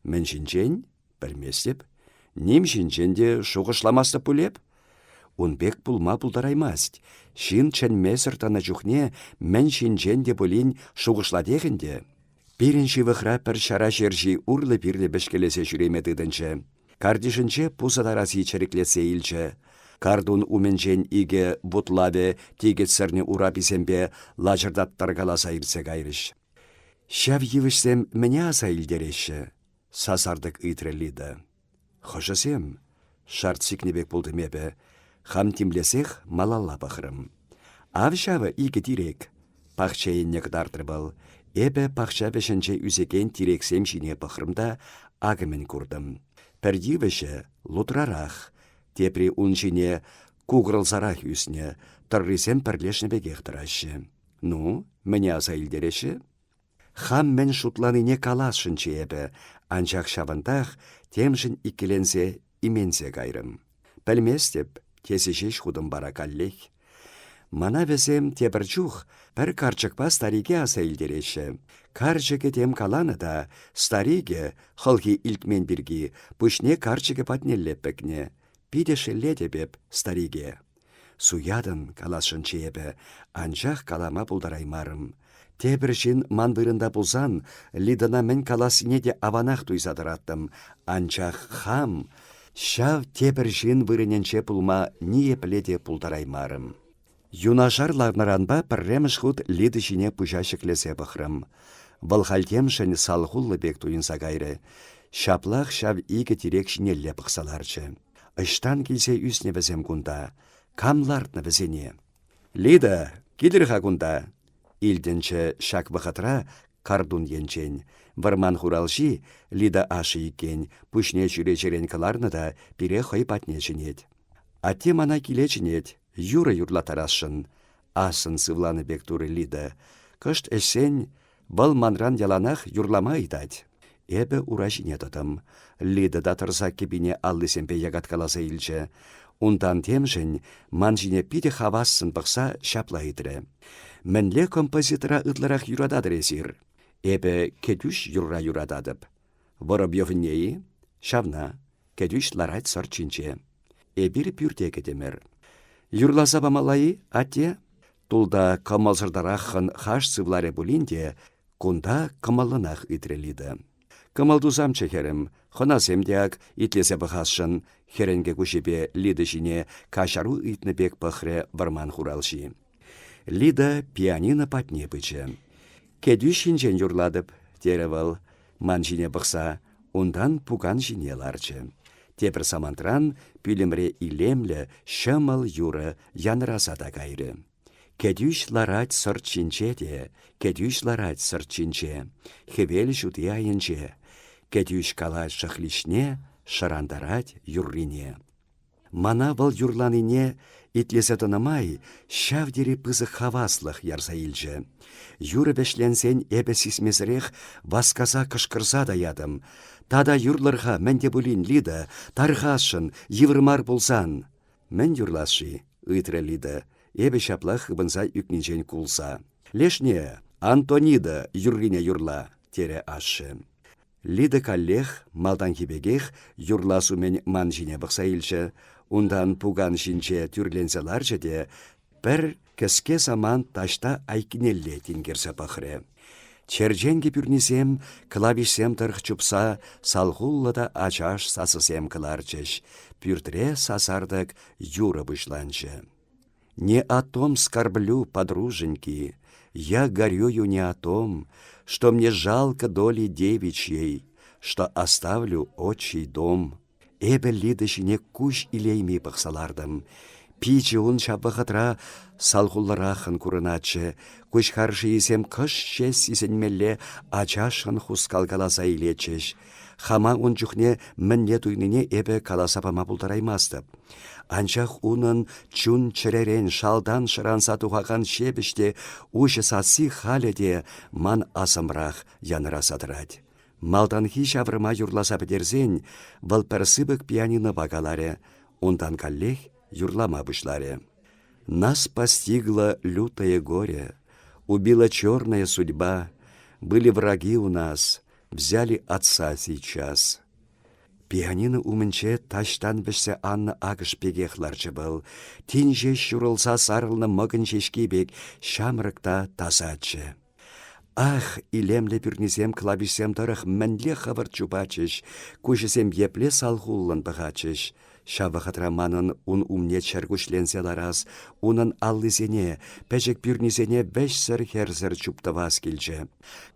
«Мӗн ҫинчен?» Пӗлместӗп. Ним ҫинчен те шухӑшламастӑп пуль эп? Ун пек пулма пултараймасть. Ҫын чӗнмесӗр тӑнӑ чухне мӗн ҫинчен те пулин шухӑшлатех ӗнтӗ. Пирӗн ҫывӑхра пӗр ҫара ҫерҫи урлӑ-пирлӗ пӗчкелесе ҫӳреме тытӑнчӗ. Картишӗнче пусӑ тараси чӗриклетсе илчӗ. Картун умӗнчен икӗ бутлавӗ тикӗтсӗрнӗ ураписемпе лачӑртаттаркаласа иртсе кайрӗҫ. Ҫав йывӑҫсем мӗне аса илтереҫҫӗ? сасартӑк ыйтрӗ Лида. Хӑшӗсем? шарт сикнӗ пек пултӑм эпӗ. Хам тимлесех малалла пӑхрӑм. Ав ҫавӑ икӗ тирек. Пахча енне кӑтартрӗ вӑл. Эпӗ пахча вӗҫӗнче ӳсекен тирексем ҫине пӑхрӑм та акӑмӗн куртӑм. Пӗр йывӑҫӗ лутрарах, тепри ун ҫине кукӑлсарах ӳснӗ, тӑррисем пӗрлешнӗ пекех тӑраҫҫӗ. Ну, мӗне аса илтереҫҫӗ? Хам мӗн шутланине каласшӑнччӗ эпӗ, анчах ҫавӑнтах, темшӗн иккӗленсе, именсе кайрӑм. «Пӗлместӗп», тесе ҫеҫ хутӑм пара каллех. Мана вӗсем тепӗр чух пӗр карчӑкпа старике аса илтереҫҫӗ. Карчӑкӗ тем каланӑ та старикӗ, хӑлхи илтмен пирки, пуҫне карчӑкӗ патнелле пӗкнӗ. Питӗ шеллетӗп эп старике. Суятӑн, каласшӑнччӗ эпӗ, анчах калама пултараймарӑм. Тепӗр ҫын ман вырӑнта пулсан, Лидӑна мӗн калассине те аванах туйса тӑраттӑм, анчах хам ҫав тепӗр ҫын вырӑнӗнче пулма ниепле те пултараймарӑм. Юнашар ларнӑранпа пӗрремӗш хут Лида ҫине пуҫа ҫӗклесе пӑхрӑм. Вӑл халь темшӗн салхуллӑ пек туйӑнса кайрӗ. Ҫаплах ҫав икӗ тирек ҫинелле пӑхса ларчӗ. Ӑҫтан килсе ӳснӗ вӗсем кунта? Кам лартнӑ вӗсене? Лида, килӗр-ха кунта, илтӗнчӗ ҫак вӑхӑтра Картун енчен. Вӑрман хуралҫи, Лида ашшӗ иккен, пуҫне чӳречерен кӑларнӑ та пире хӑй патне чӗнет. Атте мана киле чӗнет, юрӑ юрлаттарасшӑн. Ассӑн сывланӑ пек турӗ Лида. Кӑшт ӗҫсен, Вӑл манран яланах юрлама ыйтать. Эпӗ ура ҫине тӑтӑм. Лида та тӑрса кӗпине аллисемпе якаткаласа илчӗ. Унтан темшӗн ман ҫине питӗ хавассӑн пӑхса ҫапла ыйтрӗ. «Мӗнле композитора ытларах юрататӑр эсир?» «Эпӗ кӗтӳҫ юрра юрататӑп». «Воробьевне-и?» «Ҫавна. Кӗтӳҫ ларать сӑрт ҫинче». «Эпир пӳрте кӗтӗмӗр». «Юрласа памалла-и, атте?» Тулта кӑмӑлсӑртараххӑн хаш сывларӗ пулин те, кунта кӑмӑллӑнах ыйтрӗ Лида. Кӑмӑл тусамччӗ хӗрӗм, хӑнасем те ак итлесе пӑхасшӑн, хӗрӗнкӗ куҫӗпе Лида ҫине каҫару ыйтнӑ пек пӑхрӗ вӑрман хуралҫи. Лида пианино патне пычӗ. «Кӗтӳҫ ҫинчен юрлатӑп», терӗ вӑл, ман ҫине пӑхса. Унтан пукан ҫине ларчӗ. Тепӗр самантран пӳлӗмре илемлӗ ҫӑмӑл юрӑ янраса та кайрӗ. Кӗтӳҫ ларать сӑрт ҫинче те, Кӗтӳҫ ларать сӑрт ҫинче, хӗвел ҫути айӗнче. Кӗтӳҫ калать шӑхличне, шӑрантарать юррине. Мана вӑл юрланине итлесе тӑнӑ май ҫав тери пысӑк хаваслӑх ярса илчӗ. Юрӑ вӗҫленсен эпӗ сисмесӗрех васкаса кӑшкӑрса та ятӑм: «Тата юрлӑр-ха мӗн те пулин, Лида, тархасшӑн, йывӑр мар пулсан!» «Мӗн юрлас-ши?» — ыйтрӗ Лида, эпӗ ҫапла хыпӑнса ӳкнинчен кулса. «Лешне, Антонида юррине юрла», — терӗ ашшӗ. Лида каллех, малтанхи пекех, юрлас умӗн ман ҫине пӑхса илчӗ, унтан пукан ҫинче тӳрленсе ларчӗ те пӗр кӗске самант таҫта айккинелле тинкерсе пӑхрӗ. Черченкӗ пӳрнисем, клавишсем тӑрӑх чупса, салхуллӑ та ачаш сасӑсем кӑларчӗҫ. Пӳртре сасартӑк юрӑ пуҫланчӗ. Не о том скорблю, подруженьки, я горюю не о том, что мне жалко доли девичьей, что оставлю отчий дом. Эпӗ Лида ҫине куҫ илейми пӑхса лартӑм. Пичӗ ун ҫав вӑхӑтра салхуллӑраххӑн курӑнатчӗ. Куҫ харшийӗсем кӑшт ҫеҫ сисӗнмелле ачашшӑн хускалкаласа илетчӗҫ. Хама ун чухне мӗнле туйнине эпӗ каласа пама пултараймастӑп. Анчах унӑн чун-чӗререн шалтан шӑранса тухакан ҫепӗҫ те уҫӑ сасси халӗ те ман асӑмрах янраса тӑрать. Малтанхи ҫаврӑма юрласа пӗтерсен вӑл пӗр сыпӑк пианинопа каларӗ, унтан каллех юрлама пуҫларӗ. Нас постигло лютое горе, убила черная судьба, были враги у нас, Взяли отца сейчас. Пианино умӗнче таҫтан вӗҫсе аннӑ акӑш пекех ларчӗ вӑл. Тин ҫеҫ ҫурӑлса сарӑлнӑ мӑкӑнь ҫеҫки пек ҫамрӑк та тасаччӗ. Ах, илемлӗ пӳрнисем клавишсем тӑрӑх мӗнле хӑвӑрт чупатчӗҫ, куҫӗсем епле салхуллӑн пӑхатчӗҫ. Ҫав вӑхӑтра манӑн ун умне чӗркуҫленсе ларас, унӑн аллисене, пӗчӗк пӳрнисене вӗҫсӗр-хӗрсӗр чуптӑвас килчӗ.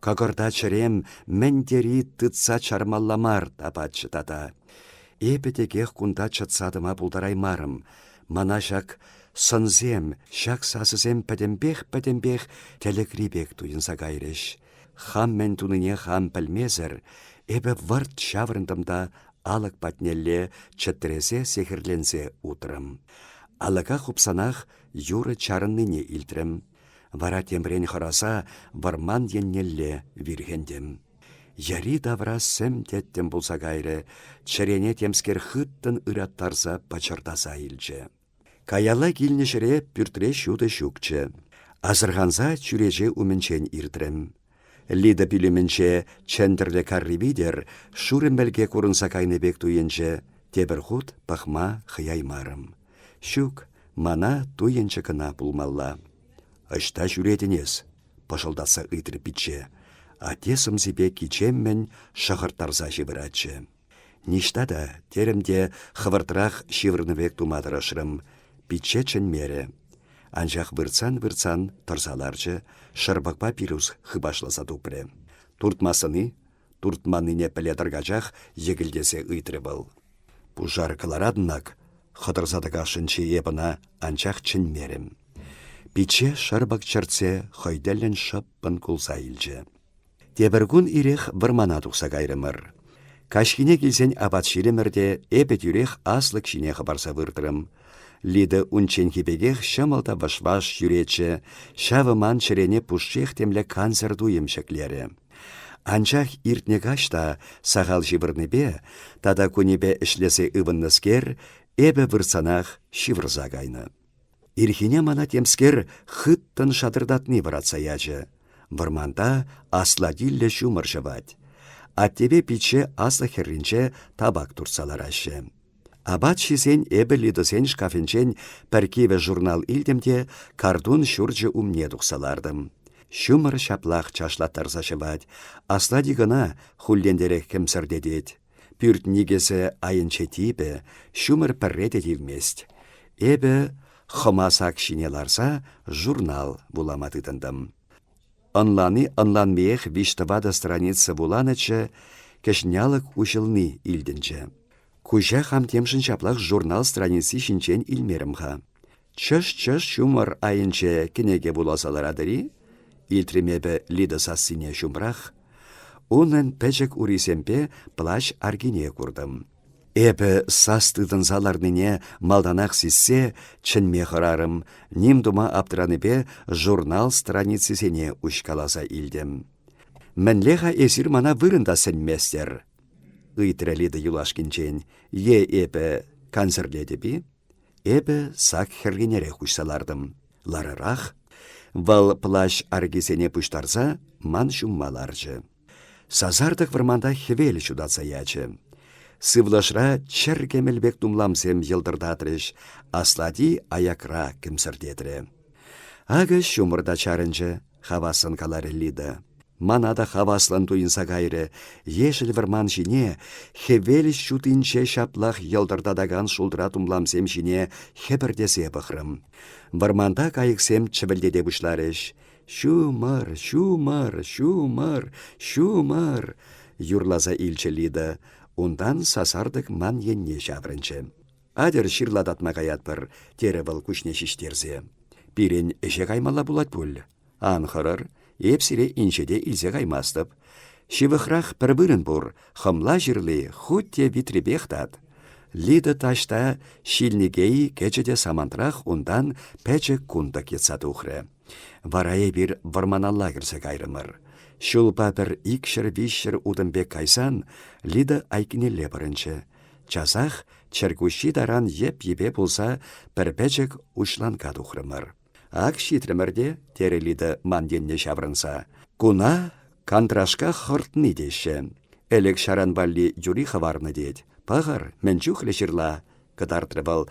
Кӑкӑрта чӗрем мӗн тери тытса чармалла мар тапатчӗ тата. Эпӗ текех кунта чӑтса тӑма пултараймарӑм. Мана ҫак сӑнсем, ҫак сасӑсем пӗтӗмпех-пӗтӗмпех тӗлӗкри пек туйӑнса кайрӗҫ. Хам мӗн тунине хам пӗлмесӗр, эпӗ вӑрт ҫаврӑнтӑм та алӑк патнелле чӗтресе сехӗрленсе утрӑм. Алӑка хупсанах юрӑ чарӑннине илтрӗм. Вара темрен хӑраса вӑрман еннелле вирхӗнтӗм. Йӗри-тавра сӗм тӗттӗм пулса кайрӗ, чӗрене темскер хыттӑн ыраттарса пӑчӑртаса илчӗ. Каялла килнӗ ҫӗре пӳртре ҫутӑ ҫукчӗ. Асӑрханса чӳрече умӗнчен иртрӗм. Лида пӳлӗмӗнче чӗнтӗрлӗ карри витӗр шурӑ мӗлке курӑнса кайнӑ пек туйӑнчӗ. Тепӗр хут пӑхма хӑяймарӑм. Ҫук, мана туйӑнчӑ кӑна пулмалла. «Ӑҫта ҫӳретӗн эс?» – пӑшӑлтатса ыйтрӗ пичче. Атте сӑмсипе кичеммӗн шӑхӑрттарса ҫывӑратчӗ. Ниҫта та, терӗм те хӑвӑртрах ҫывӑрнӑ пек тума тӑрӑшрӑм. Пичче чӗнмерӗ. Анчах выртсан-выртсан тӑрса ларчӗ, шӑрпӑкпа пирус хыпашласа тупрӗ. «Туртмассӑн-и?» туртманнине пӗле тӑркачах йӗкӗлтесе ыйтрӗ вӑл. «Пушар кӑларатӑн-ак!» хӑтӑрса тӑкасшӑнччӗ эп ӑна, анчах чӗнмерӗм. Пичче шӑрпӑк чӗртсе хӑй тӗллӗн шӑппӑн кулса илчӗ. Тепӗр кун ирех вӑрмана тухса кайрӑмӑр. Каҫхине килсен апат ҫилӗмӗр те эпӗ тӳрех аслӑк ҫине хӑпарса выртрӑм. Лида унчченхи пекех ҫӑмӑл та вӑш-ваш ҫӳретчӗ, ҫавӑ ман чӗрене пушшех темле кансӗр туйӑм ҫӗклерӗ. Анчах иртнӗ каҫ та, сахал ҫывӑрнипе тата кунӗпе ӗҫлесе ывӑннӑскер, эпӗ вырсанах ҫывӑрса кайнӑ. Ирхине мана темскер хыттӑн шатӑртатни вӑратса ячӗ. Вӑрманта аслатиллӗ ҫумӑр ҫӑвать. Аттепе пичче аслӑк хӗрринче табак туртса лараҫҫӗ. Апат ҫисен эпӗ Лидӑсен шкафӗнчен пӗр кивӗ журнал илтӗм те картун ҫурчӗ умне тухса лартӑм. Ҫумӑр ҫаплах чашлаттарса ҫӑвать, аслати кӑна хуллентерех кӗмсӗртетет. Пӳрт никӗсӗ айӗнче типӗ, ҫумӑр пӗрре те тивмест. Эпӗ, хӑмасак ҫине ларса, журнал вулама тытӑнтӑм. Ӑнлани-ӑнланмиех виҫ-тӑватӑ страница вуланӑччӗ, кӗҫнялӑк уҫӑлни илтӗнчӗ. Куҫа хам темшӗн ҫаплах журнал страници ҫинчен илмерӗм-ха. Чӑш-чӑш ҫумӑр айӗнче кӗнеке вуласа ларатӑр-и? илтрӗм эпӗ Лида сассине ҫумрах. Унӑн пӗчӗк урисемпе плащ аркине куртӑм. Эпӗ сас тытӑнса ларнине малтанах сиссе чӗнме хӑрарӑм, ним тума аптранипе журнал страницисене уҫкаласа илтӗм. «Мӗнле-ха эсир мана вырӑн та сӗнместӗр?» ыйтрӗ Лида юлашкинчен. «Е эпӗ кансӗрлетӗп-и?» Эпӗ сак хӗрринерех уҫса лартӑм. Ларӑрах. Вӑл плащ аркисене пуҫтарса ман ҫумма ларчӗ. Сасартӑк вӑрманта хӗвел ҫутатса ячӗ. Сывлӑшра чӗр кӗмӗл пек тумламсем йӑлтӑртатрӗҫ, аслати аякра кӗмсӗртетрӗ. Акӑ ҫумӑр та чарӑнчӗ. Хавассӑн каларӗ Лида. Мана та хаваслӑн туйӑнса кайрӗ. Ешӗл вӑрман ҫине, хӗвел ҫутинче ҫаплах йӑлтӑртатакан шултра тумламсем ҫине хӗпӗртесе пӑхрӑм. Вӑрманта кайӑксем чӗвӗлтете пуҫларӗҫ. «Ҫумӑр, ҫумӑр, ҫумӑр, ҫумӑр!» юрласа илчӗ Лида. Унтан сасартӑк ман енне ҫаврӑнчӗ. Атьӑр ҫырлататма каятпӑр, терӗ вӑл куҫне ҫиҫтерсе. Пирӗн ӗҫе каймалла пулать пуль. Ан хӑрӑр, эп сире инҫете илсе каймастӑп. Ҫывӑхрах пӗр вырӑн пур, хӑмла ҫырли хуть те витрепех тат. Лида таҫта Ҫилникей кӗчӗ те самантрах унтан пӗчӗк кунтӑк йӑтса тухрӗ. Вара эпир вӑрманалла кӗрсе кайрӑмӑр. Ҫулпа пӗр икҫӗр-виҫҫӗр утӑм пек кайсан Лида айккинелле пӑрӑнчӗ. Часах чӗркуҫҫи таран йӗп-йӗпе пулса пӗр пӗчӗк уҫланка тухрӑмӑр. «Ак ҫитрӗмӗр те», — терӗ Лида ман енне ҫаврӑнса. «Куна Кантрашка хӑртни теҫҫӗ. Ӗлӗк-ҫаран валли юри хӑварнӑ тет. Пӑхӑр, мӗн чухлӗ ҫырла!» — кӑтартрӗ вӑл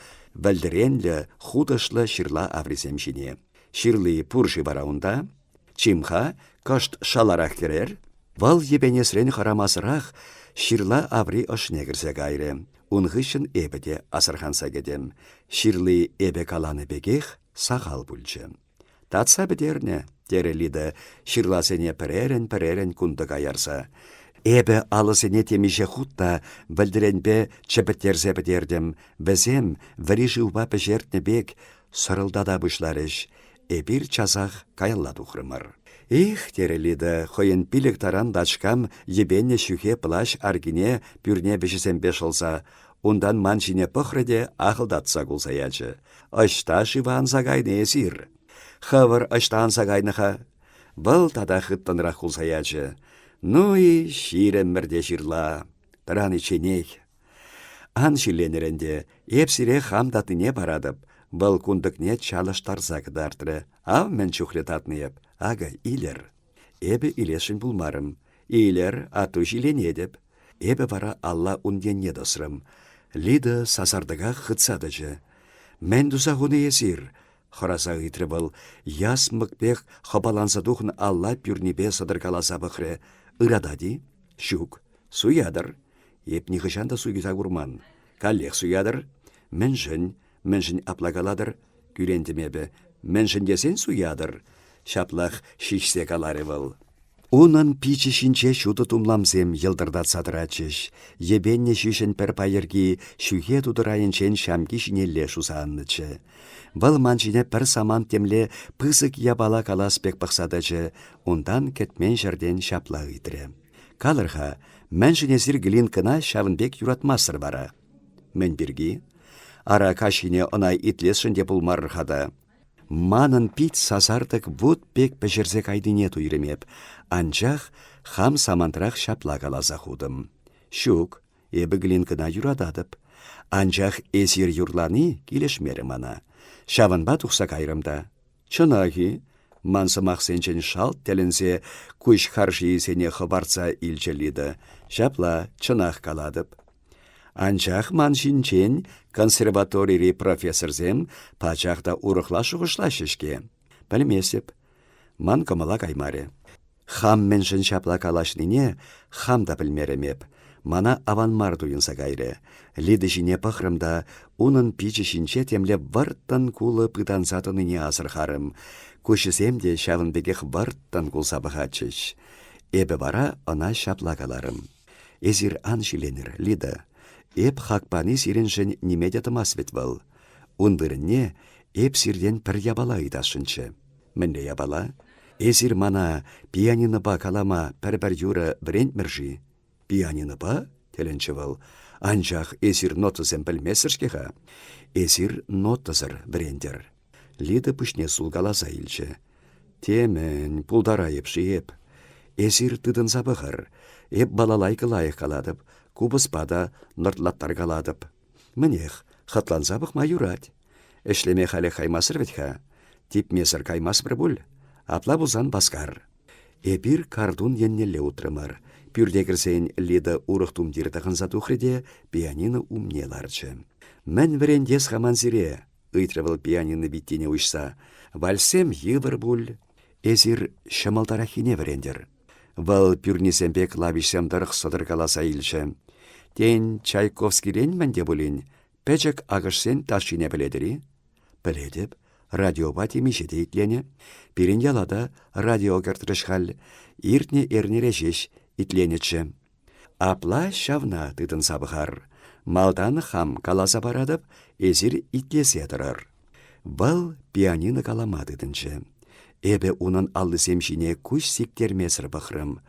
вӗлтӗренлӗ, хутӑшлӑ ҫырла аврисем ҫине. «Ҫырли пур-ши вара унта?» Чим-ха, кӑшт шаларах кӗрер. Вӑл йӗпенесрен хӑрамасӑрах ҫырла аври ӑшне кӗрсе кайрӗ. Ун хыҫҫӑн эпӗ те асӑрханса кӗтӗм. Ҫырли эпӗ каланӑ пекех сахал пулчӗ. «Татса пӗтернӗ», — терӗ Лида ҫырласене пӗрерӗн-пӗрерӗн кунтӑка ярса. «Эпӗ алӑсене темиҫе хут та вӗлтӗренпе чӗпӗттерсе пӗтертӗм. Вӗсем, вӗри шывпа пӗҫертнӗ пек, сӑрӑлтата пуҫларӗҫ. Эпир часах каялла тухрӑмӑр. «Эх!» терӗ Лида хӑйӗн пилӗк таран тачкам йӗпеннӗ ҫӳхе плащ аркине пӳрне вӗҫӗсемпе шӑлса. Унтан ман ҫине пӑхрӗ те ахӑлтатса кулса ячӗ. «Ӑҫта-шива анса кайнӑ эсир?» «Хӑвӑр ӑҫта анса кайнӑ-ха?» Вӑл тата хыттӑнрах кулса ячӗ. «Ну и ҫирӗммӗр те ҫырла. Тӑраничченех Ан ҫилленӗр ӗнтӗ, эп сире хам татнине паратӑп. Вӑл кунтӑкне чалӑштарса кӑтартрӗ. Ав мӗн чухлӗ татнӑ эп. Акӑ, илер. Эпӗ илесшӗн пулмарӑм. Илер, а ту ҫилленетӗп. Эпӗ вара алла ун енне тӑсрӑм. Лида сасартӑка хытса тӑчӗ. «Мӗн туса хунӑ эсир?» — хӑраса ыйтрӗ вӑл. Ясмӑк пек хӑпаланса тухнӑ алла пӳрнипе сӑтӑркаласа пӑхрӗ. «Ыратать-и?» «Ҫук. Суятӑр. Эп нихӑҫан та суйса курман. Каллех суятӑр. Мӗншӗн? Мӗншӗн апла калатӑр? Кӳрентӗм эпӗ. Мӗншӗн тесен суятӑр? ҫаплах ҫиҫсе каларӗ вӑл. Унӑн пичӗ ҫинче ҫутӑ тумламсем йӑлтӑртатса тӑратчӗҫ. Йӗпеннӗ ҫӳҫӗн пӗр пайӑрки ҫӳхе тутӑрайӗнчен ҫамки ҫинелле шуса аннӑччӗ. Вӑл ман ҫине пӗр самант темле пысӑк япала калас пек пӑхса тӑчӗ, унтан кӗтмен ҫӗртен ҫапла ыйтрӗ: Калӑр-ха, мӗншӗн эсир Глинкӑна ҫавӑн пек юратмастӑр вара? Мӗн пирки? Ара, каҫхине ӑна итлесшӗн те пулмарӑр-ха та. Манӑн пит сасартӑк вут пек пӗҫерсе кайнине туйрӑм эп, анчах хам самантрах ҫапла каласа хутӑм. Ҫук, Эпӗ Глинкӑна юрататӑп. Анчах эсир юрлани килӗшмерӗ мана. Ҫавӑнпа тухса кайрӑм та. Чӑнах-и? Ман сӑмахсенчен шалт тӗлӗнсе куҫ харшийӗсене хӑпартса илчӗ Лида. Ҫапла, чӑнах калатӑп. Анчах ман ҫинчен консерваторири профессорсем пачах та урӑхла шухӑшлаҫҫӗ-ҫке. Пӗлместӗп. Ман кӑмӑла каймарӗ. Хам мӗншӗн ҫапла калаҫнине хам та пӗлмерӗм эп. Мана аван мар туйӑнса кайрӗ. Лида ҫине пӑхрӑм та унӑн пичӗ ҫинче темле вӑрттӑн кулӑ пытанса тӑнине асӑрхарӑм. Куҫӗсем те ҫавӑн пекех вӑрттӑн кулса пӑхатчӗҫ. Эпӗ вара ӑна ҫапла каларӑм. «Эсир ан ҫиленӗр, Лида. Эп хак пани сирӗншӗн ниме те тӑмасть вӗт вӑл. Ун вырӑнне эп сиртен пӗр япала ыйтасшӑнччӗ». Мӗнле япала? Эсир мана пианинӑпа калама пӗр-пӗр юрӑ вӗрентмӗр-ши? Пианинӑпа? тӗлӗнчӗ вӑл. Анчах эсир нотӑсем пӗлместӗр-ҫке-ха. Эсир нотӑсӑр вӗрентӗр. Лида пуҫне сулкаласа илчӗ. Темӗн, пултарайӑп-ши эп? Эсир тытӑнса пӑхӑр. Эп балалайка лайӑх калатӑп, купӑспа та нӑртлаттаркалатӑп. Мӗнех, хӑтланса пӑхма юрать. Ӗҫлеме халӗ каймасӑр вӗт-ха. Типмесӗр каймастпӑр пуль? Апла пулсан васкар. Эпир картун еннелле утрӑмӑр. Пӳрте кӗрсен Лида урӑх тумтир тӑхӑнса тухрӗ те пианино умне ларчӗ. «Мӗн вӗрентес-ха ман сире?» — ыйтрӗ вӑл пианино виттине уҫса. «Вальссем йывӑр пуль. Эсир ҫӑмӑлтараххине вӗрентӗр». Вӑл пӳрнисемпе клавишсем тӑрӑх сӑтӑркаласа илчӗ. «Тен, Чайковскирен мӗн те пулин?» Пӗчӗк акӑшсен ташшине пӗлетӗр-и? Пӗлетӗп. Радиопа темиҫе те итленӗ. Пирӗн яла та радио кӗртрӗҫ халь. Иртнӗ эрнере ҫеҫ итленӗччӗ. Апла ҫавна тытӑнса пӑхар. Малтан хам каласа паратӑп, эсир итлесе тӑрӑр. Вӑл пианино калама тытӑнчӗ. Эпӗ унӑн аллисем ҫине куҫ сиктермесӗр пӑхрӑм.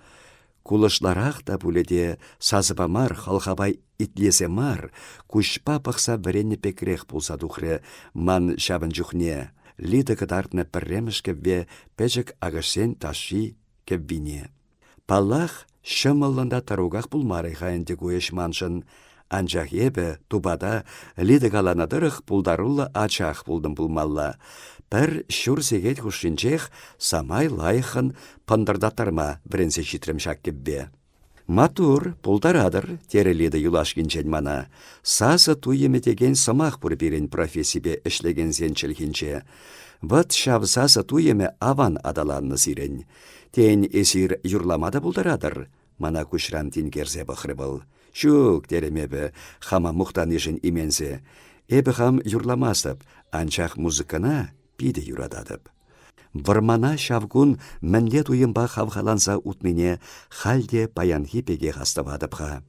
Кулӑшларах та пулӗ те, сасӑпа мар, хӑлхапа итлесе мар, куҫпа пӑхса вӗреннӗ пекрех пулса тухрӗ ман ҫавӑн чухне Лида кӑтартнӑ пӗрремӗш кӗвве пӗчӗк акӑшсен ташши кӗввине. Паллах, ҫӑмӑллӑн та тӑруках пулмарӗ-ха ӗнтӗ ку ӗҫ маншӑн. Анчах эпӗ тупата Лида каланӑ тӑрӑх пултаруллӑ ачах пултӑм пулмалла. Пӗр ҫур сехет хушшинчех самай лайӑххӑн пӑнтӑртаттарма вӗренсе ҫитрӗм ҫак кӗвве. «Маттур, пултаратӑр», терӗ Лида юлашкинчен мана. «Сасӑ туйӑмӗ текен сӑмах пур пирӗн профессипе ӗҫлекенсен чӗлхинче. Вӑт ҫав сасӑ туйӑмӗ аван аталаннӑ сирӗн. Тен, эсир юрлама та пултаратӑр?» Мана куҫран тинкерсе пӑхрӗ вӑл. «Ҫук», терӗм эпӗ, хама мухтанишӗн именсе. «Эпӗ хам юрламастӑп, анчах музыкӑна питӗ юрататӑп». Вӑрмана ҫав кун мӗнле туйӑмпа хавхаланса утнине халь те паянхи пекех астӑватӑп-ха.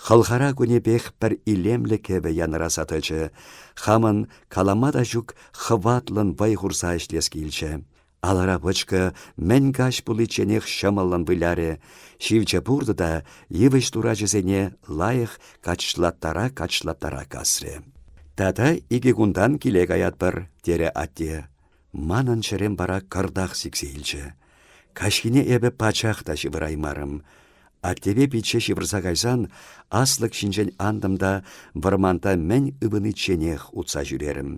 Хӑлхара кунӗпех пӗр илемлӗ кӗвӗ янӑраса тӑчӗ. Хамӑн калама та ҫук хӑватлӑн вӑй хурса ӗҫлес килчӗ. Алӑра пӑчкӑ мӗн каҫ пуличченех ҫӑмӑллӑн вылярӗ, ҫивче пуртӑ та йывӑҫ турачӗсене лайӑх качлаттара-качлаттара касрӗ. «Тата икӗ кунтан киле каятпӑр», – терӗ атте. Манӑн чӗрем вара кӑртах сиксе илчӗ. Каҫхине эпӗ пачах та ҫывӑраймарӑм. Аттепе пичче ҫывӑрса кайсан, аслӑк ҫинчен антӑм та вӑрманта мӗн ывӑничченех утса ҫӳрерӗм.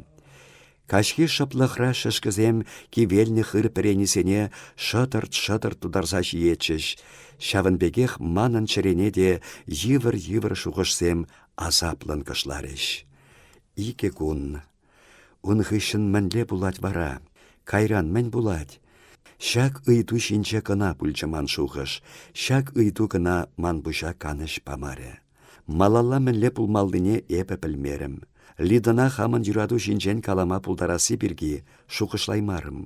Каҫхи шӑплӑхра шӗшкӗсем кивелнӗ хыр пӗренисене шӑтӑрт-шӑтӑрт тутарса ҫиетчӗҫ. Ҫавӑн пекех манӑн чӗрене те йывӑр-йывӑр шухӑшсем асаплӑн кӑшларӗҫ. Икӗ кун. Ун хыҫҫӑн мӗнле пулать вара? Кайран мӗн пулать? Ҫак ыйту ҫинче кӑна пулчӗ ман шухӑш. Ҫак ыйту кӑна ман пуҫа канӑҫ памарӗ. Малалла мӗнле пулмаллине эпӗ пӗлмерӗм. Лидӑна хамӑн юрату ҫинчен калама пултарасси пирки шухӑшлаймарӑм.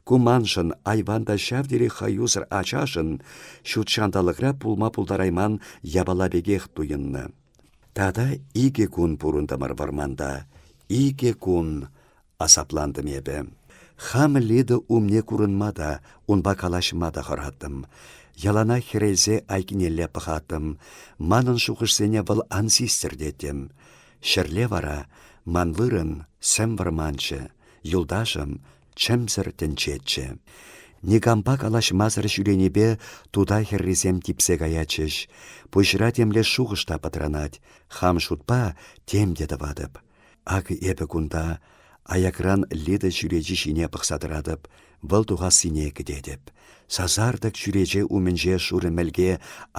Ку маншӑн, айван та ҫав тери хӑюсӑр ачашӑн, ҫут ҫанталӑкра пулма пултарайман япала пекех туйӑннӑ. Тата икӗ кун пурӑнтӑмӑр вӑрманта. Икӗ кун! Асаплантӑм эпӗ. Хам Лида умне курӑнма та, унпа калаҫма та хӑраттӑм. Ялана хӗрелсе айкинелле пӑхаттӑм. Манӑн шухӑшсене вӑл ан систӗр теттӗм. Ҫӗрле вара ман вырӑн сӗм вӑрманччӗ, юлташӑм чӗмсӗр тӗнчеччӗ. Никампа калаҫмасӑр ҫӳренипе тута хӗррисем типсе каятчӗҫ. Пуҫра темле шухӑш та пӑтранать. Хам шутпа тем те тӑватӑп. Акӑ эпӗ кунта, аякран Лида чӳречи ҫине пӑхса тӑратӑп, вӑл тухассине кӗтетӗп. Сасартӑк чӳрече умӗнче шурӑ мӗлке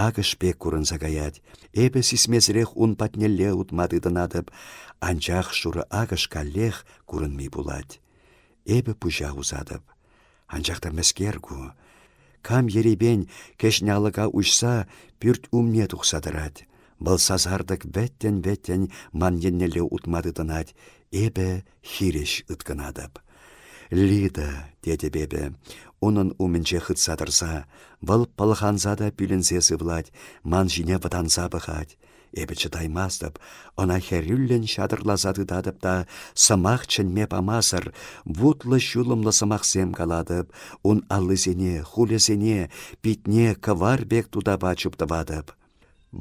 акӑш пек курӑнса каять. Эпӗ сисмесӗрех ун патнелле утма тытӑнатӑп, анчах шурӑ акӑш каллех курӑнми пулать. Эпӗ пуҫа усатӑп. Анчах та мӗскер ку? Кам ерипен кӗҫӗн алӑка уҫса пӳрт умне тухса тӑрать. Вӑл сасартӑк вӗттӗн-вӗттӗн ман еннелле утма тытӑнать. Эпӗ хирӗҫ ыткӑнатӑп. «Лида», — тетӗп эпӗ, унӑн умӗнче хытса тӑрса, вӑл пӑлханса та пӳлӗнсе сывлать, ман ҫине вӑтанса пӑхать. Эпӗ чӑтаймастӑп, ӑна хӗрӳллӗн ҫатӑрласа тытатӑп та сӑмах чӗнме памасӑр вутлӑ-ҫулӑмлӑ сӑмахсем калатӑп, ун аллисене, хулӗсене, питне кӑвар пек тутапа чуптӑватӑп.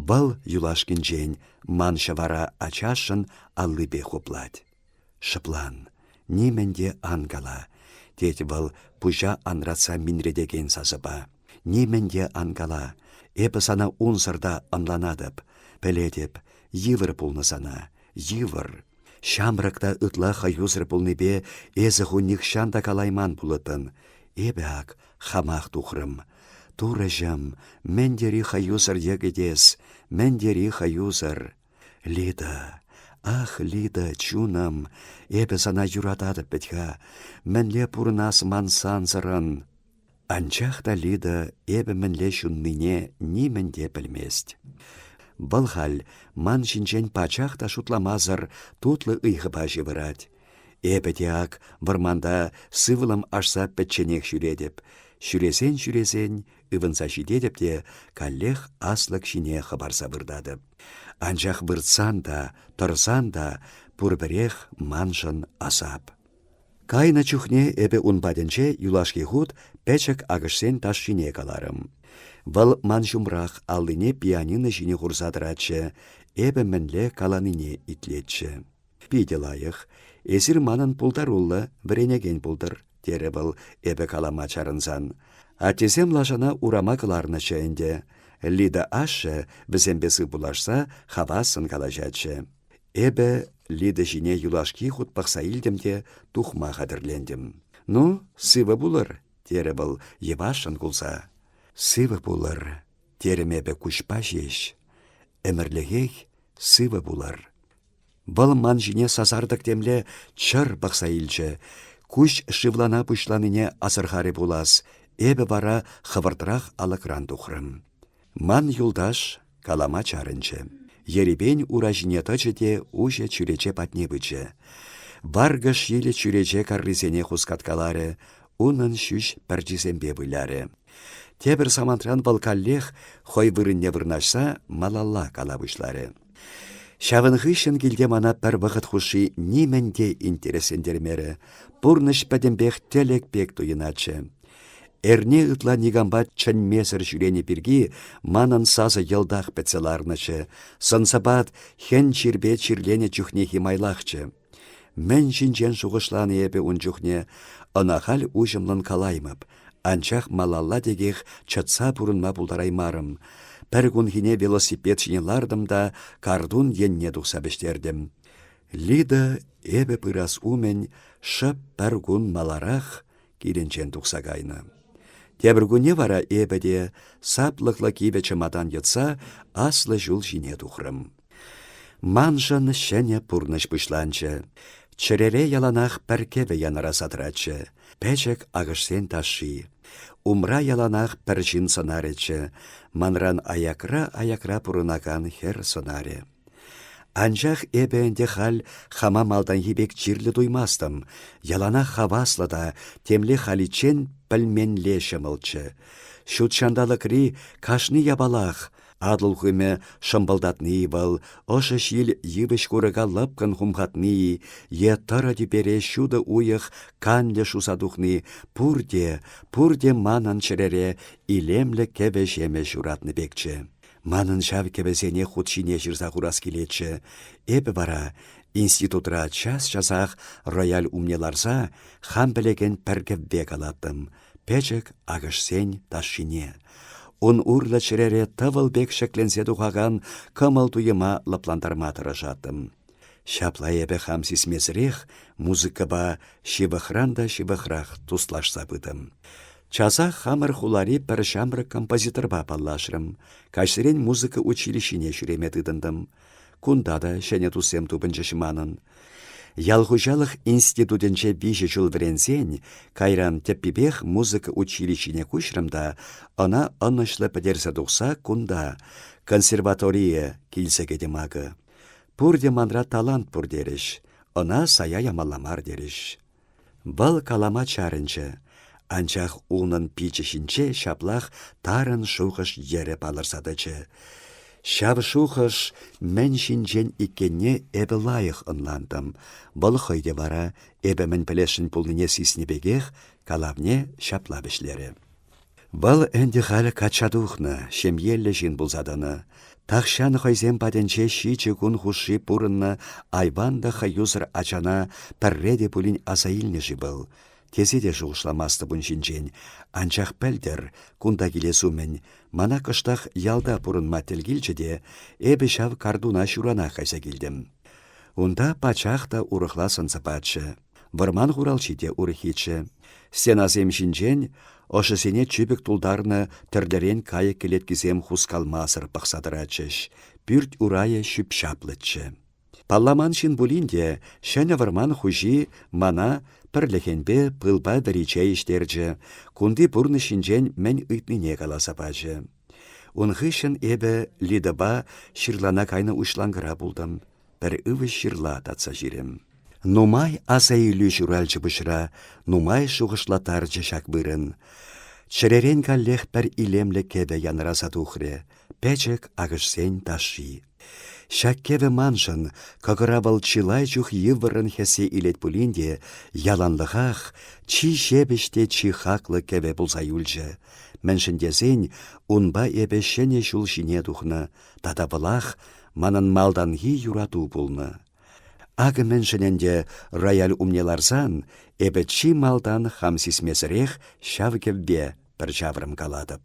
Вӑл юлашкинчен ман ҫӑвара ачашӑн аллипе хуплать. Шӑплан, нимӗн те ан кала, тет вӑл пуҫа анратса минретекен сасӑпа. Нимӗн те ан кала, эпӗ сана унсӑр та ӑнланатӑп, пӗлетӗп, йывӑр пулнӑ сана, йывӑр. Ҫамрӑк та ытла хӑюсӑр пулнипе эсӗ ху нихҫан та калайман пулӑттӑн. Эпӗ ак хамах тухрӑм. Турӑҫӑм, мӗн тери хӑюсӑр йӗкӗт эс, мӗн тери хӑюсӑр. Лида, ах, Лида, чунӑм, эпӗ сана юрататӑп вӗт-ха, мӗнле пурӑнас ман сансӑрӑн? Анчах та Лида эпӗ мӗнле ҫуннине нимӗн те пӗлмест. Вӑл халь ман ҫинчен пачах та шутламасӑр тутлӑ ыйхӑпа ҫывӑрать. Эпӗ те ак вӑрманта сывлӑм ашса пӗчченех ҫӳретӗп. Ҫӳресен-ҫӳресен Ывӑнса ҫитетӗп те каллех аслӑк ҫине хӑпарса выртатӑп. Анчах выртсан та, тӑрсан та пурпӗрех маншӑн асап. Кайнӑ чухне эпӗ ун патӗнче юлашки хут пӗчӗк акӑшсен ташшине каларӑм. Вӑл ман ҫумрах аллине пианино ҫине хурса тӑратчӗ, эпӗ мӗнле каланине итлетчӗ. Питӗ лайӑх. Эсир манӑн пултаруллӑ, вӗренекен пултӑр, терӗ вӑл эпӗ калама чарӑнсан. Аттесем лашана урама кӑларнӑччӗ ӗнтӗ. Лида ашшӗ, вӗсемпе сывпуллашса, хавассӑн калаҫатчӗ. Эпӗ Лида ҫине юлашки хут пӑхса илтӗм те тухма хатӗрлентӗм. «Ну, сывӑ пулӑр», терӗ вӑл йӑвашшӑн кулса. «Сывӑ пулӑр», терӗм эпӗ куҫпа ҫеҫ. «Ӗмӗрлӗхех сывӑ пулӑр». Вӑл ман ҫине сасартӑк темле чӑр пӑхса илчӗ. Куҫ шывлана пуҫланине асӑрхарӗ пулас, эпӗ вара хӑвӑртрах алӑкран тухрӑм. Ман юлташ калама чарӑнчӗ. Ерипен ура ҫине тӑчӗ те уҫӑ чӳрече патне пычӗ. Варкӑш йӗлӗ чӳрече каррисене хускаткаларӗ, унӑн ҫӳҫ пӗрчисемпе вылярӗ. Тепӗр самантран вӑл каллех, хӑй вырӑнне вырнаҫса, малалла кала пуҫларӗ. Ҫавӑн хыҫҫӑн килте мана пӗр вӑхӑт хушши нимӗн те интереслентермерӗ. Пурнӑҫ пӗтӗмпех тӗлӗк пек туйӑнатчӗ. Эрне ытла никампа чӗнмесӗр ҫӳренӗ пирки манӑн сасӑ йӑлтах пӗтсе ларнӑччӗ, сӑн-сӑпат хӗн чирпе чирленӗ чухнехи майлахчӗ. Мӗн ҫинчен шухӑшлани эпӗ ун чухне ӑна халь уҫӑмлӑн калаймӑп, анчах малалла текех чӑтса пурӑнма пултараймарӑм. Пӗр кунхине велосипед ҫине лартӑм та картун енне тухса вӗҫтертӗм. Лида, эпӗ пырас умӗн, шӑп пӗр кун маларах килӗнчен тухса кайнӑ. Тепӗр кунне вара эпӗ те, саплӑклӑ кивӗ чӑматан йӑтса, аслӑ ҫул ҫине тухрӑм. Маншӑн ҫӗнӗ пурнӑҫ пуҫланчӗ. Чӗрере яланах пӗр кӗвӗ янӑраса тӑратчӗ. Пӗчӗк акӑшсен ташши. Умра яланах пӗр ҫын сӑнарӗччӗ. Манран аякра-аякра пурӑнакан хӗр сӑнарӗ. Анчах эпӗ ӗнтӗ халь хама малтанхи пек чирлӗ туймастӑм. Яланах хаваслӑ та темле халиччен пӗлменле ҫӑмӑлччӗ. Ҫут ҫанталӑкри кашни япалах, Атӑл хумӗ шӑмпӑлтатни вӑл, ӑшӑ ҫил йывӑҫ курӑка лӑпкӑн хумхатни е тӑрӑ тӳпере ҫутӑ уйӑх канлӗ шуса тухни пурте, пурте манӑн чӗрере илемлӗ кӗвӗ-ҫемӗ ҫуратнӑ пекчӗ. Манӑн ҫав кӗвӗсене хут ҫине ҫырса хурас килетчӗ. Эпӗ вара, институтра час-часах рояль умне ларса, хам пӗлекен пӗр кӗвве калаттӑм — пӗчӗк акӑшсен ташшине. Ун урлӑ чӗрере тӑвӑл пек ҫӗкленсе тухакан кӑмӑл туйӑма лӑплантарма тӑрӑшаттӑм. Ҫапла эпӗ хам сисмесӗрех музыкӑпа ҫывӑхран та ҫывӑхрах туслашса пытӑм. Часах хамӑр хулари пӗр ҫамрӑк композиторпа паллашрӑм. Каҫсерен музыка училищине ҫӳреме тытӑнтӑм. Кунта та ҫӗнӗ туссем тупӑнчӗҫ манӑн. Ял хуҫалӑх институтӗнче виҫӗ ҫул вӗренсен, кайран тӗппипех музыка училищине куҫрӑм та ӑна ӑнӑҫлӑ пӗтерсе тухса кунта, консерваторие, килсе кӗтӗм акӑ. Пурте манра талант пур терӗҫ. Ӑна сая ямалла мар терӗҫ. Вӑл калама чарӑнчӗ, анчах унӑн пичӗ ҫинче ҫаплах тарӑн шухӑш йӗрӗ палӑрса тӑчӗ. Ҫав шухӑш мӗн ҫинчен иккенне эпӗ лайӑх ӑнлантӑм. Вӑл хӑй те вара, эпӗ мӗн пӗлесшӗн пулнине сиснӗ пекех, калавне ҫапла вӗҫлерӗ. Вӑл ӗнтӗ халь качча тухнӑ, ҫемьеллӗ ҫын пулса тӑнӑ. Тахҫан хӑйсем патӗнче ҫичӗ кун хушши пурӑннӑ айван та хӑюсӑр ачана пӗрре те пулин аса илнӗ-ши вӑл? Тесе те шухӑшламастӑп ун ҫинчен, анчах пӗлтӗр, кунта килес умӗн, мана кӑштах ялта пурӑнма тӗл килчӗ те эпӗ ҫав картуна ҫуранах кайса килтӗм. Унта пачах та урӑхла сӑн-сӑпатчӗ. Вӑрман хуралҫи те урӑххиччӗ. Стенасем ҫинчен ӑшӑсене чӳпӗк тултарнӑ тӗрлӗрен кайӑк кӗлеткисем хускалмасӑр пӑхса тӑратчӗҫ, пӳрт урайӗ ҫӳп-ҫаплӑччӗ. Палламан ҫын пулин те ҫӗнӗ вӑрман хуҫи мана пӗрлӗхенпе пылпа вӗри чей ӗҫтерчӗ, кунти пурнӑҫ ҫинчен мӗн ыйтнине каласа пачӗ. Ун хыҫҫӑн эпӗ Лидӑпа ҫырлана кайнӑ уҫланкӑра пултӑм. Пӗр ывӑҫ ҫырла татса ҫирӗм. Нумай асаилӳ ҫуралчӗ пуҫра, нумай шухӑшлаттарчӗ ҫак вырӑн. Чӗререн каллех пӗр илемлӗ кӗвӗ янраса тухрӗ, пӗчӗк акӑшсен ташши. Ҫак кӗвӗ маншӑн, кӑкӑра вӑл чылай чух йывӑррӑн хӗссе илет пулин те, яланлӑхах чи ҫепӗҫ те чи хаклӑ кӗвӗ пулса юлчӗ. Мӗншӗн тесен унпа эпӗ ҫӗнӗ ҫул ҫине тухнӑ, Тата пылах манӑн малтанхи юрату пулнӑ. Акӑ мӗншӗн ӗнтӗ рояль умне ларсан эпӗ чи малтан хам сисмесӗрех ҫав кӗвве пӗр ҫаврӑм калатӑп.